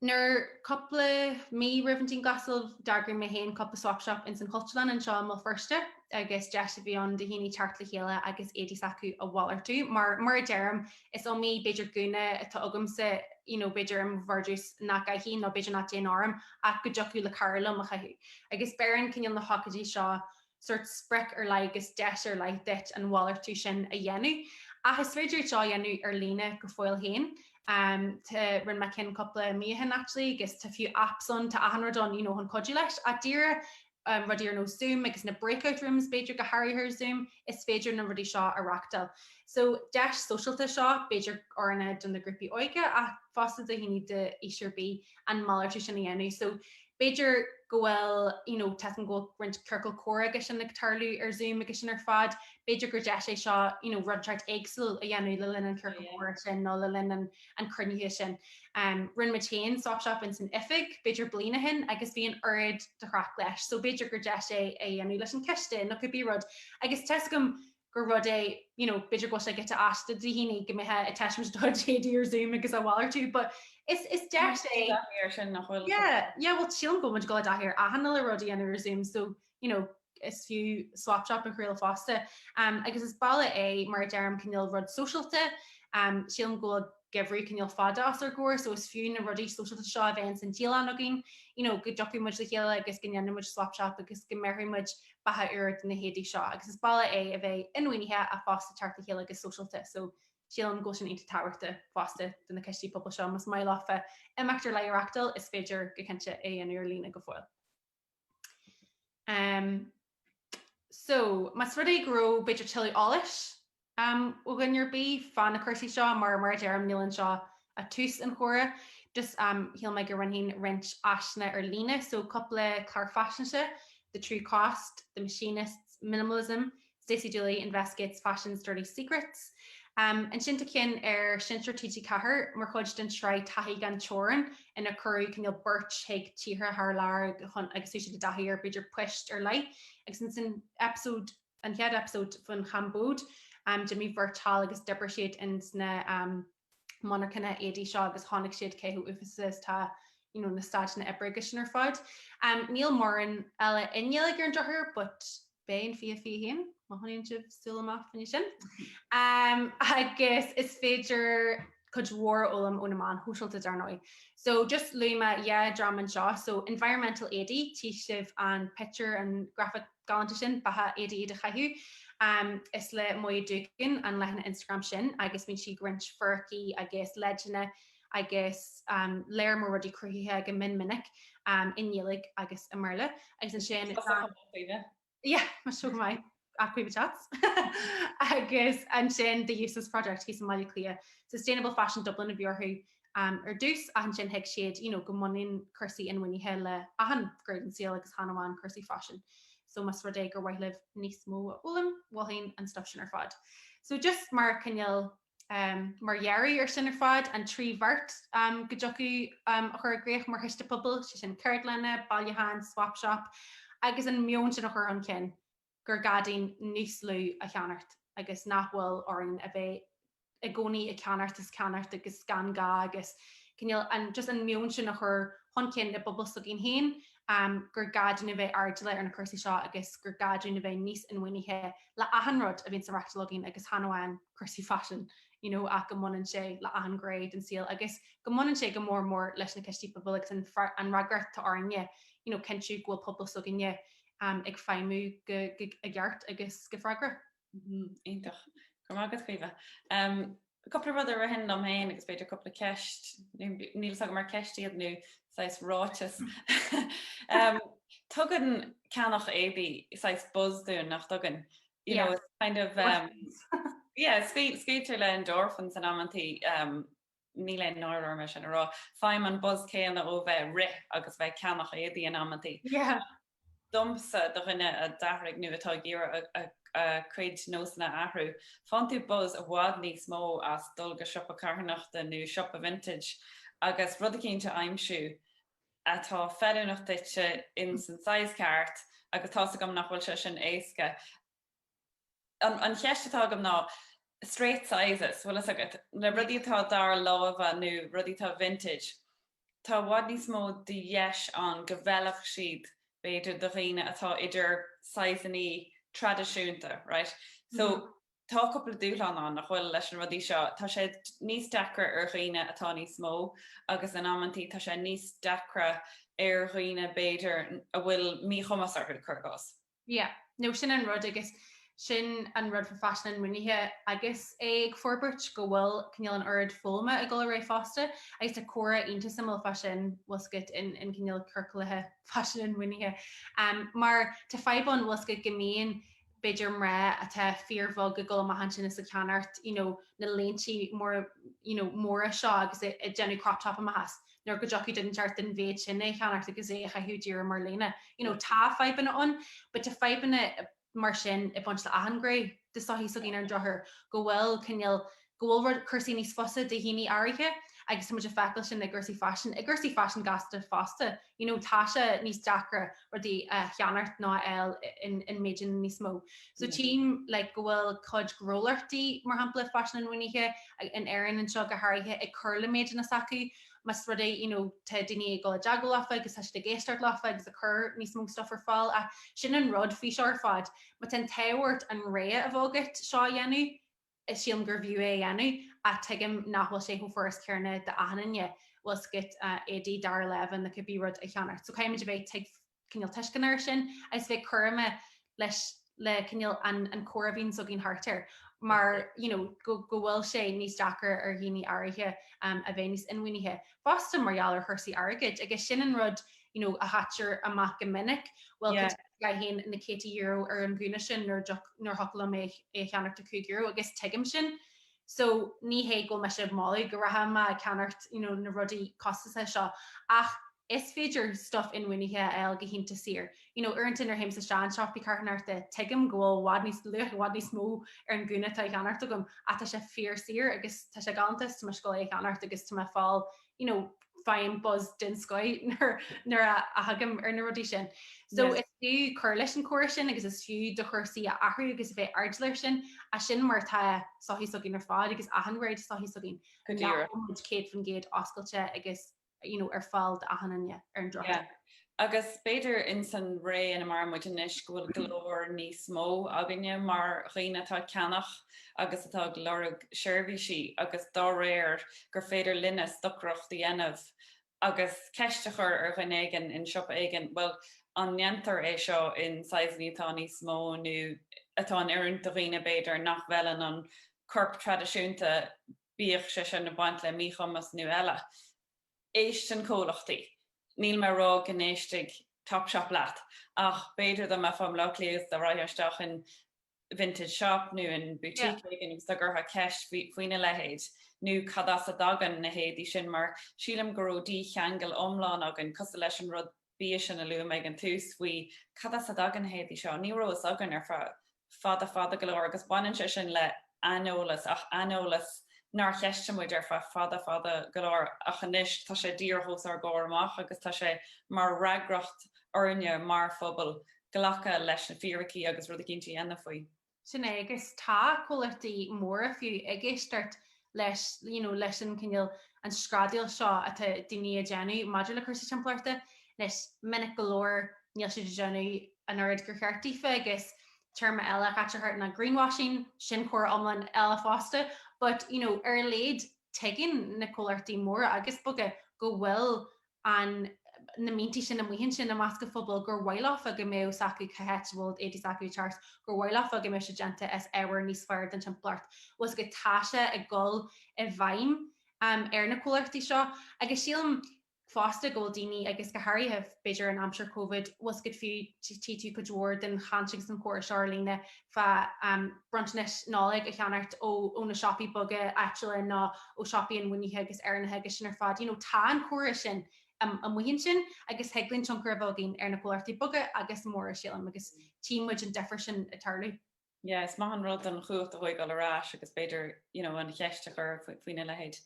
[SPEAKER 2] nuair cúpla mí roimh an dianghlasáil d'eagraigh mé féin cúpla Swap Shop ins an Chultúrlann anseo i mBéal Feirste agus deis a bhí ann do dhaoine teacht le chéile agus éadaí s'acu a mhalartú mar mar a deirim Is iomaí b'fhéidir gúna atá agamsa, you know, b'fhéidir i mo vardrús nach gcaithfidh nó b'fhéidir nach dtéann orm ach go dtiocfadh le cara liom a chaitheamh. Agus beireann cineál na hócáidí seo sórt sprioc ar leith agus deis ar leith duit an mhalartú sin a dhéanamh. Ach is féidir é seo a dhéanamh ar líne go fóill féin. Umm tá, rinne mé ceann cúpla mí ó shin actually agus tá fiú apps ann, tá achan rud ann, you know, chun cuidiú leis. Ach díreach rudaí ar nós Zoom agus na breakout rooms b'fhéidir go háirithe ar Zoom, is féidir na rudaí seo a reáchtáil. So, deis sóisialta seo, b'fhéidir ar ndóigh do na grúpaí óige ach fosta do dhaoine d'aois ar bith an malartú sin a dhéanamh. So, b'fhéidir go bhfuil, you know, tá a fhios agam go bhfuil roinnt ciorcal comhrá agus sin ag tarlú ar Zoom agus sin ar fad, b'fhéidir gur deis é seo, you know, rud inteacht éagsúil a dhéanamh le linn an ciorcal comhrá sin nó le linn an cruinnithe sin. Rinne muid féin swap shop ins an oifig b'fhéidir bliain ó shin agus bhí an oiread de chraic leis so b'fhéidir gur deis é a dhéanamh leis an coiste nó cibé rud agus tá a fhios agam gur rud é you know b'fhéidir go bhfuil sé giota aisteach do dhaoine go mbeifeá ag taispeáint do chuid éadaí ar Zoom agus á mhalartú but is is deis é. Tá taithí ar sin nach bhfuil? Yeah yeah bhuel sílim go bhfuil muid ag gabháil i dtaithí ar achan uile rud a dhéanamh ar Zoom so you know, is fiú swap shop a thriail fosta. Um, agus is bealach é, mar a deirim, cineál rud sóisialta. Um, sílim go bhfuil geimhreadh cineál fada os ár gcomhair, so is fiú na rudaí sóisialta seo a bheith ins an dialann againn, you know, go dtiocfaidh muid le chéile agus go ndéanfaidh muid swap shop agus go mbéarfaidh muid beatha úr do na héadaí seo. Agus is bealach é a bheith inbhuanaithe ach fosta teacht le chéile agus sóisialta, so sílim go bhfuil sin iontach tábhachta fosta do na coistí pobail seo. Más maith leofa imeacht ar leith a reáchtáil, is féidir go cinnte é a dhéanamh ar líne go fóill. Umm so más rud é go raibh b'fhéidir tuilleadh eolais am ó dhuine ar bith fá na cúrsaí seo mar mar a deirim níl anseo ach tús an chomhrá just am shíl mé go roinnfinn roinnt áiseanna ar líne so cúpla clár faisnéise, the true cost, the machinists, minimalism, Stacey Dooley investigates fashion's dirty secrets. Ansin tá ceann ar seinnteoir TG4 mar chuid den tsraith Taithí gan Teorainn inar cuireadh cineál beirt chuig tíortha thar lear chun agus thug siad a dtaithí ar b'fhéidir poist ar leith agus ins an episode an chéad episode faoin Chambóid d'imigh beirt thall agus d'oibrigh siad ins na monarchana éadaí seo agus chonaic siad cé chomh uafásach is tá you know na staideanna oibre agus sin ar fad. Em níl mórán eile i nGaeilge ar an drochuair but bíonn fia fia fhéin má choinníonn sibh súil amach faoina sin. Em agus is féidir cuid mhór a fhoghlaim ó na meáin shóisialta dar ndóigh. So just luaigh mé dhá dhream anseo so environmental éadaí, tchí sibh an pictiúr an graphic galanta sin, ba cheart daoibh iad a chaitheamh. Is le Moya Doogan an leathanach Instagram sin agus bíonn sí ag roinnt fíricí agus leideanna agus lear mór rudaí cruthaitheacha go min minic i nGaeilg agus i mBéarla agus ansin yeah, so Moya Caoimhe Chats. Agus ansin The Useless Project thíos i mBaile Átha Cliath, Sustainable Fashion Dublin a bhí orthu ar dtús, ach ansin thuig siad you know go mbaineann cúrsaí inbhuanaithe le achan gné den saol agus chan amháin cúrsaí faisin. So más rud é gur mhaith libh níos mó a fhoghlaim, mholfainn an stuff sin ar fad. So just mar cineál um mar dheireadh ar sin ar fad, an trí bheart um go dtiocfadh um a chur i gcrích mar chiste pobail, sé sin ceardlanna, bailiúcháin, swap shop agus an meon sin a chur chun cinn. gur gá duinn níos lú a cheannacht agus nach bhfuil orainn a bheith i gcónaí ag ceannacht is ceannacht agus gan gá agus cineál an just an meon sin a chur chun cinn i bpobal s'againn féin gur gá duinn a bheith airdeallach ar na cúrsaí seo agus gur gá duinn a bheith níos inbhuanaithe le achan rud a bhíonns á reáchtáil againn agus chan amháin cúrsaí faisin you know ach go mbaineann sé le achan ghné den saol agus go mbaineann sé go mór mór leis na cistí pobail agus an fre- an fhreagracht atá orainne you know cinntiú go bhfuil pobal s'againne ag feidhmiú i gceart agus go freagrach.
[SPEAKER 1] Iontach. Go raibh maith agat Caoimhe. Cúpla rud a ritheann liom féin agus b'fhéidir cúpla ceist, níl fhios agam ar ceist iad nó saghas ráiteas. Tugann ceannach éadaí saghas buzz dúinn nach dtugann? You know, it's kind of um, yeah, scaoiltear le endorphins in amantaí um, níl aon náire orm é sin a rá, faighim an buzz céanna ó bheith ag rith agus bheith ag ceannach éadaí in amantaí. Domsa, do dhuine a d'athraigh nó atá ag iarraidh a chuid nósanna a athrú, faigheann tú buzz i bhfad níos mó as dul go siopa carthanachta nó siopa vintage agus rud eicínt a aimsiú atá feiliúnach duitse ins an size ceart agus tá's agam nach bhfuil sé sin éasca. An cheist atá agam ná, straight sizes, bhfuil fhios agat, na rudaí atá dara láimhe nó rudaí atá vintage, tá i bhfad níos mó de dheis ann go bhfeilfeadh siad b'fhéidir do dhaoine atá idir sizeannaí traidisiúnta, right? So, tá cúpla dúshlán ann, nach bhfuil, leis na rudaí seo. Tá sé níos deacra ar dhaoine atá níos mó agus in amantaí tá sé níos deacra ar dhaoine b'fhéidir a bhfuil míchumas orthu, cur i gcás. Yeah, no
[SPEAKER 2] sin an rud agus sin an rud fá faisean inbhuanaithe agus é ag forbairt go bhfuil cineál an oiread foghlama ag dul ar aghaidh fosta agus tá comhrá iontach suimiúil fá sin bhfuil fhios agat in in cineál ciorcalacha faisean inbhuanaithe ehm mar tá fadhb ann bhfuil fhios agat go mbíonn b'fhéidir mná atá fíorbheag ag dul amach ansin is ag ceannacht you know na léinte mór you know móra seo agus ag ag déanamh crop top amach as nuair go dtiocfadh den cheart den mhéid sin é a cheannacht agus é a chaitheamh díreach mar léine. You know, tá fadhbanna ann, but tá fadhbanna mar sin ag baint le achan ghné de sochaí s'againn ar an drochuair go bhfuil cineál, go bhfuil rud, cúrsaí níos fusa de dhaoine áirithe agus tá muid ag feiceáil sin i gcúrsaí faisin, i gcúrsaí faisin gasta fosta. You know, tá sé níos deacra rudaí a cheannacht nó a fháil in, in méideanna níos mó. So tchím like go bhfuil cuid gnólachtaí mar shampla faisean inbhuanaithe in Éirinn anseo go háirithe ag cur le méideanna s'acu más rud é you know tá daoine ag dul i dteagmháil leofa agus tá siad ag éisteacht leofa agus ag cur níos mó stuff ar fáil ach sin an rud faoi seo ar fad má tá an t-ádh ort an rogha a bheith agat seo a dhéanamh is sílim gurbh fhiú é a dhéanamh ach tuigim nach bhfuil sé chomh furast céanna d'achan duine bhfuil a fhios agat éadaí dara láimhe nó cibé rud a cheannacht so caithfimid a bheith tuig cineál tuisceanach ar sin agus bheith cúramach leis le cineál an an comhrá a bhíonns againn thart air mar you know go go bhfuil sé níos deacair ar dhaoine áirithe um, a bheith níos inbhuanaithe fosta mar gheall ar chúrsaí airgid agus sin an rud a you know, a chaitear amach go minic, well, Yeah. cad chuige a gcaithfinn na céadta euro ar an ghúna sin nuair dtug- nuair a thiocfadh liom é é a cheannacht ar chúig euro, agus tuigim sin. So, ní hé go bhfuil mise ag moladh go rachfá amach ag ceannacht, you know, na rudaí costasacha seo, ach is féidir stuif inbhuanaithe a fháil go hiontach saor. You know, uaireanta nuair a théimse isteach i siopaí carthanachta, tuigim go bhfuil i bhfad níos luach, i bhfad níos mó ar an ghúna atá á cheannacht agam, ach tá sé fíor saor agus tá sé galánta is tá mé ag gabháil é a cheannacht agus tá mé ag fáil you know, faighim buzz den scoth nuair a thagaim ar na rudaí sin. So is fiú cur leis an chomhrá sin agus is fiú do chúrsaí a athrú agus a bheith airdeallach air sin, as sin mar tá sochaí s'againn ar fad agus achan ghné de sochaí s'againn nach bhfuil muid céad faoin gcéad oscailte agus, you know, ar fáil d'achan duine ar an drochuair. Agus
[SPEAKER 1] b'fhéidir ins an ré ina maireann muid anois go bhfuil glór níos mó againne mar dhaoine atá ag ceannach agus atá ag lorg seirbhísí agus dá réir gur féidir linne stocaireacht a dhéanamh agus ceist a chur ar dhuine éigin in siopa éigin bhuel an ndéantar é seo in saghsanna atá níos mó nó atá in oiriúint do dhaoine b'fhéidir nach bhfeileann an corp traidisiúnta bíodh sé sin ag baint le míchumas nó eile. Éisteann comhlachtaí. Níl mé a rá go n-éistfidh Topshop leat, ach b'fhéidir dá mbeifeá i mBleá Cliath agus dá rachfá isteach in vintage shop nó in boutique éigin agus dá gcuirfeá ceist faoina leithéid nó cad as a dtagann na héadaí sin mar sílim go raibh dícheangal iomlán againn cosúil leis an rud bia sin a luaigh mé ag an tús faoi cad as a dtagann na héadaí seo, ní raibh fhios againn ar feadh fada fada go leor agus baineann sé sin le aineolas ach aineolas nár cheistigh muid ar feadh fada fada go leor ach anois tá sé díreach os ár gcomhair amach agus tá sé mar fhreagracht orainne mar phobal glacadh leis na fíricí agus rud éicínt a dhéanamh faoi. sin é
[SPEAKER 2] agus tá comhlachtaí móra fiú ag éisteacht leis, you know, leis an cineál, an screadaíl seo atá daoine a déanamh maidir le cúrsaí timpeallachta. Anois, minic go leor níl siad ag déanamh an oiread gur cheart dófa agus téarma eile a chaitear thart ná greenwashing, sin comhrá iomlán eile fosta, but, you know, ar a laghad tuigeann na comhlachtaí móra agus beaga go bhfuil na smaointí sin amuigh ansin i measc an phobail gur mhaith leofa go mbeadh a fhios acu cá háit a bhfuil éadaí s'acu ag teacht as, gur mhaith leofa go mbeadh sé déanta as ábhar níos fearr don timpeallacht. Bhfuil a fhios agat, tá sé ag dul i bhfeidhm ar na comhlachtaí seo agus sílim fosta go bhfuil daoine agus go háirithe b'fhéidir in aimsir Covid, bhfuil a fhios agat, fiú tchí tú cuid mhór den chaint agus an chomhrá seo ar líne, fá bronntanais Nollag a cheannacht ó na siopaí beaga áitiúla nó ó siopaí inbhuanaithe agus Éireannacha agus sin ar fad. You know, tá an comhrá sin amuigh ansin agus thig linn tionchar a bheith againn ar na comhlachtaí beaga agus móra sílim agus tchí muid an difear sin ag tarlú. Yeah, is maith
[SPEAKER 1] an rud an chumhacht a thóigeáil ar ais agus b'fhéidir, you know, an cheist a chur faoin a leithéid.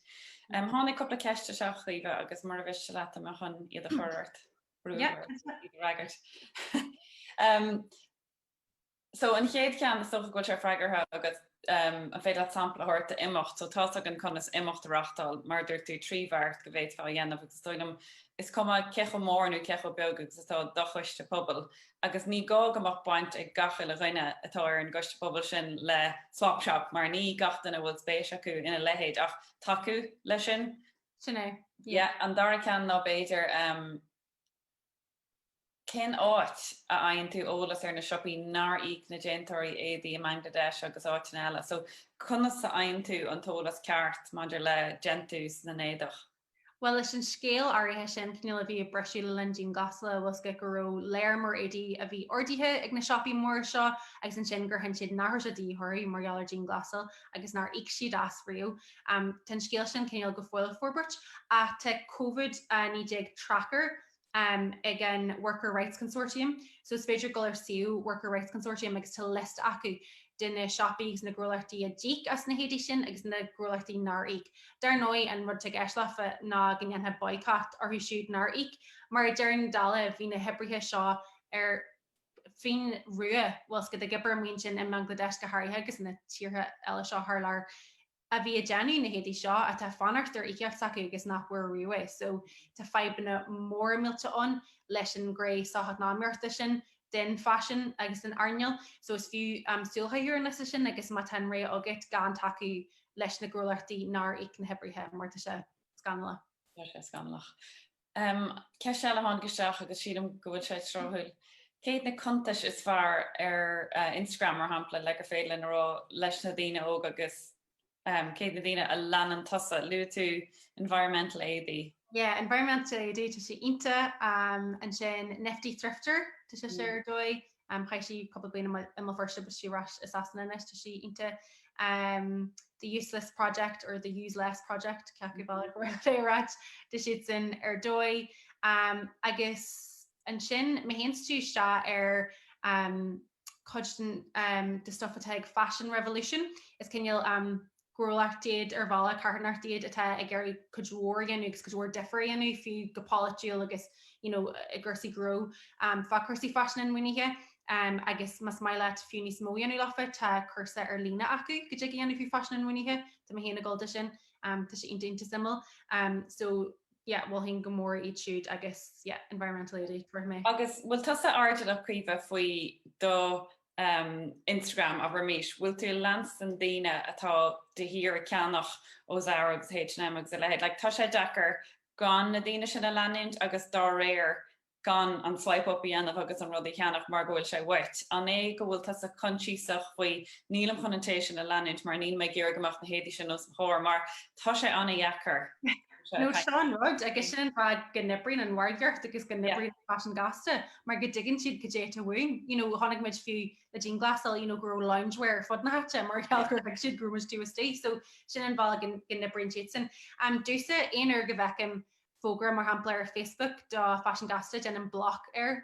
[SPEAKER 1] Tháinig cúpla ceist isteach, a Chaoimhe, agus mura mhiste leat tá mé chun iad a chur ort, brú ort iad a fhreagairt. So an chéad ceann is dócha go bhfuil sé freagartha agat, an féidir leat sampla a thabhairt d'imeacht? So tá's againn conas imeacht a reáchtáil, mar a dúirt tú, tríd an mbeart go bhféadfá a dhéanamh agus is dóigh liom is cuma cé chomh mór nó cé chomh beag agus atá do choiste pobail agus ní gá go mbeadh baint ag gach uile dhuine atá ar an gcoiste pobail sin le Swap Shop mar ní gach duine a bhfuil spéis acu ina leithéid ach tacú leis sin. Sin é.
[SPEAKER 2] Yeah. An dara
[SPEAKER 1] ceann ná b'fhéidir, Cén áit a bhfaigheann tú eolas ar na siopaí nár íoc na déantóirí éadaí i mBangladesh agus áiteanna eile? So, conas a fhaigheann tú an t-eolas ceart maidir le déantús na n-éadach? Bhuel, leis an
[SPEAKER 2] scéal áirithe sin, cineál a bhí ag briseadh le linn dianghlasála, bhfuil a fhios agat, go raibh lear mór éadaí a bhí ordaithe ag na siopaí móra seo agus ansin gur chinn siad nach raibh sé de dhíth orthu mar gheall ar dianghlasáil agus nár íoc siad as ariamh. Tá an scéal sin cineál go fóill ag forbairt ach tá Covid-19 Tracker, ag an Worker Rights Consortium. So is féidir dul ar suíomh Worker Rights Consortium agus tá liosta acu de na siopaí agus na gnólachtaí a d'íoc as na héadaí sin agus na gnólachtaí nár íoc. Dar ndóigh, an rud atá de dhíth orthu ná go ndéanfaí boycott orthu siúd nár íoc. Mar i ndeireadh na dála, bhí na hoibrithe seo ar fionraí, bhfuil a fhios agat, ag obair amuigh ansin i mBangladesh go háirithe agus na tíortha eile seo thar lear a bhí ag déanamh na héadaí seo atá ag fanacht ar íocaíocht s'acu agus nach bhfuair riamh é so tá fadhbanna móra millte ann leis an ghné socheacnamaíochta sin den faisean agus den earnáil so is fiú súil a chaitheamh ar an liosta sin agus má tá an rogha agat gan tacú leis na gnólachtaí nár íoc na hoibrithe mar tá sé scannalach. Tá sé scannalach.
[SPEAKER 1] Ceist eile a tháinig isteach agus sílim go bhfuil sé tráthúil. Cé na cuntais is fearr ar Instagram mar shampla le gur féidir linn a rá leis na daoine óga agus cé na daoine a leanann tusa? Luaigh tú Environmental Éadaí. Yeah, Environmental
[SPEAKER 2] Éadaí, tá sé iontach. Ansin Nifty Thrifter, tá sise ar dóigh. Chaith sí cúpla bliain i mBéal Feirste, but tá sí ar ais i Sasana anois, tá sí iontach. The Useless Project or The Use Less Project, cé acu bealach ab fhearr leat é a rá, tá siadsan ar dóigh. Agus ansin mé féin is tusa ar chuid den stuff atá ag Fashion Revolution, is cineál gnólacht iad, ar bhealach carthanacht iad atá ag iarraidh cuid mhór a dhéanamh agus cuid mhór difir a dhéanamh fiú go polaitiúil agus you know i gcúrsaí gnó fá chúrsaí faisin inbhuanaithe agus más maith leat fiú níos mó a dhéanamh leofa tá cúrsa ar líne acu go dtig a dhéanamh fá faisean inbhuanaithe tá mé féin ag gabháil dó sin tá sé iontach iontach suimiúil so yeah mholfainn go mór iad siúd agus yeah Environmental Éadaí chomh maith. Agus bhfuil tusa
[SPEAKER 1] airdeallach, a Chaoimhe, faoi do Instagram abraimis, bhfuil tú ag leanstan daoine atá de shíor ag ceannach ó Zara agus H&M agus a leithéid? Like tá sé deacair gan na daoine sin a leanúint agus dá réir gan an swipe up a dhéanamh agus an rud a cheannach mar go bhfuil sé uait. An é go bhfuil tusa coinsiasach faoi nílim chun an té sin a leanúint mar níl mé ag iarraidh go mbeadh na héadaí sin os mo chomhair mar tá sé an-dheacair.
[SPEAKER 2] No, sin an rud agus sin an fáth go n-oibríonn an mhargaíocht agus go n-oibríonn faisean gasta mar go dtuigeann siad goidé atá uainn. You know, chonaic muid fiú le dianghlasáil you know, go raibh loungewear ar fud na háite mar gheall gur thuig siad go raibh muid taobh istigh so sin an bealach go n-oibríonn siad sin. Um, domhsa, aon uair go bhfeicim fógra mar shampla ar Facebook do faisean gasta déanaim block air.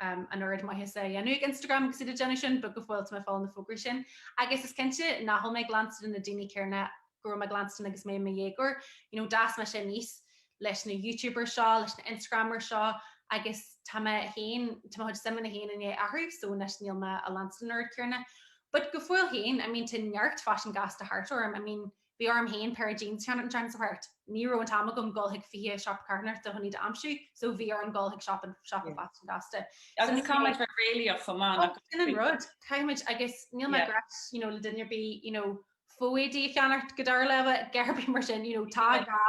[SPEAKER 2] an oiread maitheasa á dhéanamh ag Instagram agus iad ag déanamh sin, but go fóill tá mé ag fáil na fógraí sin. Agus is cinnte nach bhfuil mé ag leanstan na daoine céanna go raibh mé ag leanstan agus mé i mo dhéagóir. You know, d'fhás mise aníos leis na YouTubers seo, leis na Instagramers seo agus tá mé féin, tá mo chuid suimeanna féin i ndiaidh athrú, so anois níl mé á leanstan an oiread céanna. But go fóill féin, I mean tá neart faisean gasta thart orm, I mean Bhí orm féin péire jeans a cheannacht an tseachtain seo thart. Ní raibh an t-am agam dhul chuig 20 siopa carthanachta fá choinne iad a aimsiú, so bhí orm dhul chuig siopa faisean gasta. Agus caithfimid
[SPEAKER 1] bheith réalaíoch chomh maith, nach bhfuil? Sin an rud,
[SPEAKER 2] caithfimid, agus níl mé ag rá leis, you know, le duine ar bith, you know, fá éadaí a cheannacht, go dtarlódh leibhe, gearr ar bith mar sin, you know, tá gá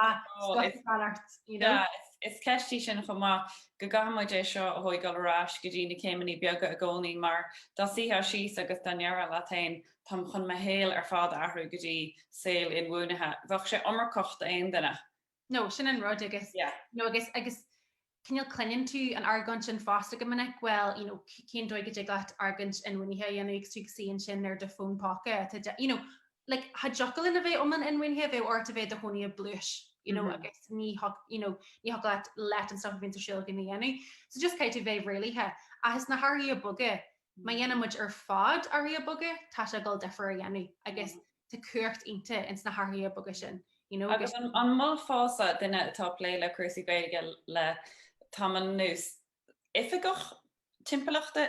[SPEAKER 2] stuff a cheannacht, you know. Sea, is,
[SPEAKER 1] is ceist í sin chomh maith, go gcaithfimid é seo a thóigeáil ar ais go dtí na céimeanna beaga i gcónaí, mar dá suífeá síos agus dá ndéarfá leat fhéin, Táim chun mo shaol ar fad a athrú go dtí saol inbhuanaithe. Bheadh sé iomarcach d'aon duine. No, sin an
[SPEAKER 2] rud agus, yeah, you know, agus, agus cineál cluineann tú an argóint sin fosta go minic, well, you know, cén dóigh go dtig leat argóint inbhuanaithe a dhéanamh agus tú ag suí ansin ar do fón póca atá de, you know, like, cha dtiocfadh linn a bheith iomlán inbhuanaithe bheadh ort a bheith i do chónaí i bpluais, you know, agus ní, you know, ní thiocfadh leat leath an stuff a bhíonns ar siúl agat a dhéanamh. So just caithfidh tú bheith réalaíoch. Ach is na hathruithe beaga Má dhéanann muid ar fad athruithe beaga tá sé ag dul difear a dhéanamh agus tá cumhacht ionta ins na hathruithe beaga sin you know agus. Agus an
[SPEAKER 1] molfása, duine atá ag plé le cúrsaí Gaeilge le tamall anuas, oifigeach timpeallachta,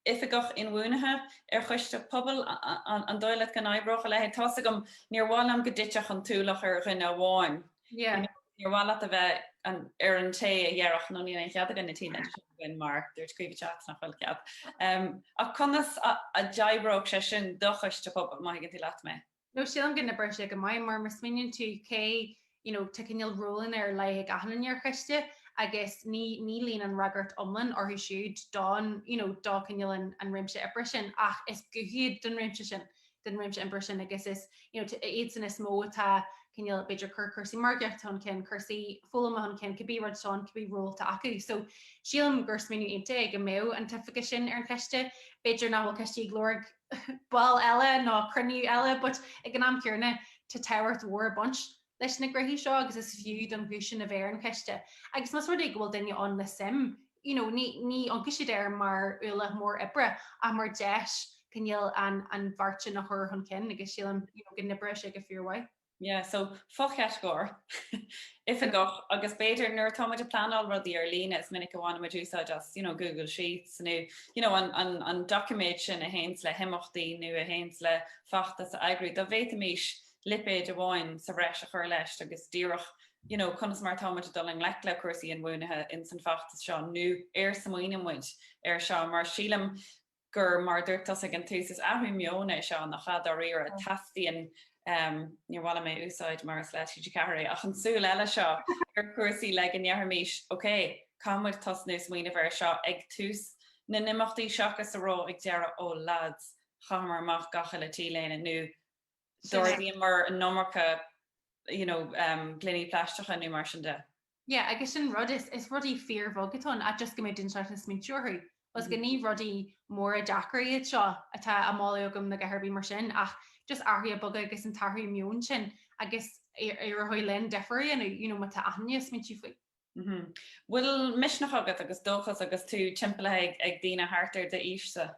[SPEAKER 1] oifigeach inbhuanaithe ar choiste pobail, an dóigh leat go n-oibreodh a leithéid? Tá's agam níor mhaith liom go dtitfeadh an t-ualach ar dhuine amháin Yeah. Níor mhaith leat a bheith an- ar an té a dhéarfadh nó níl aon chead againn na tíre sin againn mar dúirt Caoimhe Teach nach bhfuil cead. Em, ach conas a, a d'oibreodh sé sin do choiste pobail, má thuigeann tú leat mé? No, sílim go n-oibreoidh
[SPEAKER 2] sé go maith mar, má smaoiníonn tú cé, you know, tá cineál rólanna ar leith ag achan duine ar choiste agus ní, ní luíonn an fhreagracht iomlán orthu siúd don, you know, do cineál an, an réimse oibre sin ach is guth iad don réimse sin. don réimse oibre sin agus is you know, iadsan is mó atá cineál b'fhéidir ag cur cúrsaí margaíochta chun cinn, cúrsaí foghlama chun cinn, cibé rud sin, cibé ról atá acu. So sílim gur smaoineamh iontach go mbeadh an t-oifigeach sin ar an choiste. B'fhéidir nach bhfuil coistí ag lorg ball eile ná cruinniú eile, but ag an am céarna tá tábhacht mhór ag baint leis na gnóthaí seo agus is fiú don ghuth sin a bheith ar an choiste agus más rud é go bhfuil duine ann le suim you know ní ní amharcfaidh siad air mar ualach mór oibre ach mar deis cineál an an bheart sin a chur chun cinn agus sílim you know go n-oibreoidh sé go fíormhaith. Yeah,
[SPEAKER 1] so fochatagóir, oifigeach, agus b'fhéidir nuair atá muid ag pleanáil rudaí ar líne is minic a bhainimid úsáid as you know Google Sheets nó you know an an an doiciméad sin a théanns le himeachtaí nó a théanns le feachtas a eagrú dá bhféadfaimis lipéid amháin sa bhreis a chur leis agus díreach you know conas mar atá muid ag dul i ngleic le cúrsaí inbhuanaithe ins an feachtas seo nó ar smaoineann muid air seo mar sílim gur mar a dúirt tusa ag an tús is athrú meoin é seo nach ea dáiríre teastaíonn um níor mhaith liom é a úsáid mar is le TG4 é ach an tsúil eile seo ar chúrsaí le go ndéarfaimís ok caithfidh muid tosnú smaoineamh air seo ag tús na n-imeachtaí seachas a rá ag deireadh oh lads chaitheamar amach gach uile T-léine nó d'ordaíomar an iomarca you know gloiní plaisteacha nó mar sin de. Yeah, agus
[SPEAKER 2] sin rud is is rudaí fíorbheaga atá ann, ach just go mbeidh duine inteacht ag smaointiú orthu. Agus go ní rudaí móra deacair iad seo atá á moladh agam ná a dhath ar bith mar sin, ach just athruithe beaga agus an t-athrú meoin sin agus éireoidh linn difear a dhéanamh you know má tá achan duine ag smaointiú faoi. Mhm. Bhfuil
[SPEAKER 1] misneach agat agus dóchas agus tú timpeallaithe ag daoine thart ar d'aois-sa?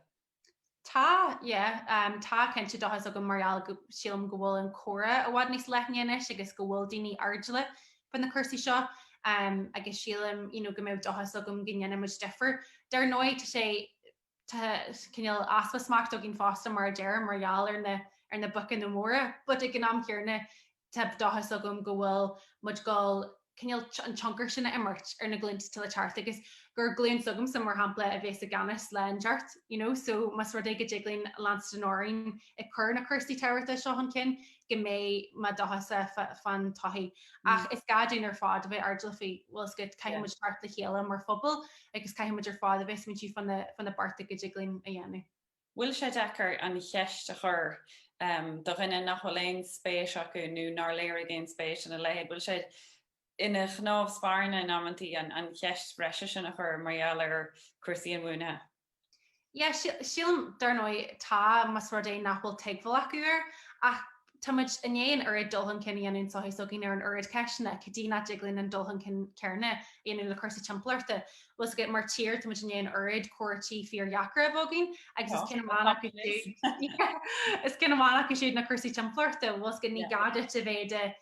[SPEAKER 2] Tá, yeah, tá cinnte dóchas agam mar gheall go, sílim go bhfuil an comhrá i bhfad níos leithne anois agus go bhfuil daoine airdeallach fá na cúrsaí seo agus sílim, you know, go mbeadh dóchas agam go ndéanfaidh muid difear. Dar ndóigh tá sé, tá cineál easpa smacht againn fosta mar a deirim mar gheall ar na, ar na boic mhóra but ag an am chéarna Tá dóchas agam go bhfuil muid ag dul cineál an tionchar sin a imirt ar na glúnta atá le teacht agus gur glúin s'agamsa mar shampla a bhéas i gceannas le teacht you know so más rud é go dtig linn leanstan orainn ag cur na cúrsaí tábhachtacha seo chun cinn go mbeidh mé dóchasach fán todhchaí ach is gá dúinn ar fad a bheith airdeallach faoi bhfuil fhios agat caithfidh muid teacht le chéile mar phobal agus caithfidh muid ar fad a bheith ag smaointiú fá na bearta go dtig linn a dhéanamh. bhfuil sé
[SPEAKER 1] deacair an cheist a chur do dhaoine nach bhfuil aon spéis acu nó nár léirigh aon spéis ina leithéid, bhfuil sé ina chnámh spairne in amantaí an cheist bhreise sin a chur mar gheall ar chúrsaí inbhuanaithe?
[SPEAKER 2] Yeah, sílim, dar ndóigh, tá, más rud é nach bhfuil tuigbheáil acu air. Ach Tá muid i ndiaidh an oiread dul chun cinn a dhéanamh sa tsochaí s'againn ar an oiread ceisteanna, cad chuige nach dtig linn an dul chun cinn céanna a dhéanamh le cúrsaí timpeallachta? Bhuel, is ea, mar tír tá muid i ndiaidh an oiread comhráití fíordheacra a bheith againn agus is amhá, is ceann amháin acu siúd na cúrsaí timpeallachta, bhfuil fhios agat ní gá duit má bhraitheann tú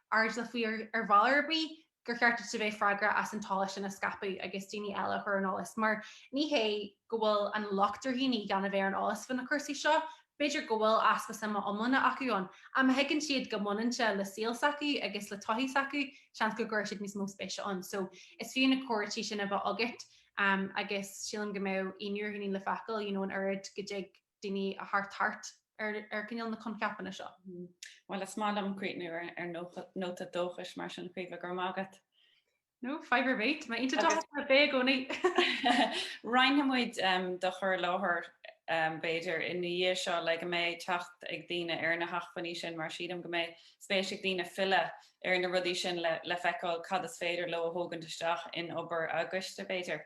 [SPEAKER 2] airdeallach faoi ar bhealach ar bith, gur cheart duit a bheith freagrach as an eolas sin a scaipeadh agus daoine eile a chur ar an eolas. Mar ní hé go bhfuil an locht ar dhaoine gan a bheith ar an eolas faoi na cúrsaí seo, b'fhéidir go bhfuil easpa suime iomláine acu ann, ach má thuigeann siad go mbaineann sé le saol s'acu agus le todhchaí s'acu, seans go gcuirfidh siad níos mó spéise ann. So, is fiú na comhráití sin a bheith agat agus sílim go mbeadh ionadh ar dhaoine le feiceáil, you know, an oiread go dtig daoine a thabhairt thart ar chineál na coincheapanna seo. Bhuel, is
[SPEAKER 1] maith liom críochnú ar nóta dóchais mar sin Caoimhe, go raibh maith agat. No,
[SPEAKER 2] fadhb ar bith, maith an t-ábhar dúinn a bheith i gcónaí. Roinnfidh muid
[SPEAKER 1] do chur i láthair, b'fhéidir, ina dhiaidh seo le go mbeidh teacht ag daoine ar na hacmhainní sin, mar sílim go mbeidh spéis ag daoine filleadh ar na rudaí sin le feiceáil cad is féidir leo a thógaint isteach in obair a gcoiste, b'fhéidir.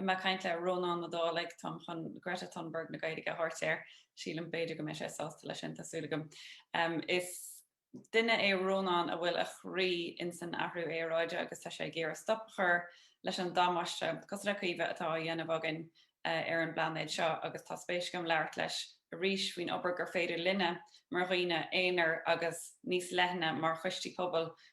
[SPEAKER 1] mé ag caint le Rónán Ó Dálaigh, táim chun Greta Thunberg na Gaeilge a thabhairt air, sílim, b'fhéidir go mbeidh sé sásta leis sin, tá súil agam. Is duine é Rónán a bhfuil a chroí in san athrú aeráide agus tá sé ag iarraidh stop a chur leis an damáiste, cosúil le Caoimhe, atá á dhéanamh againn ar an bplainéad seo agus tá spéis agam labhairt leis arís faoin obair gur féidir linne mar dhaoine aonair agus níos leithne mar choistí pobail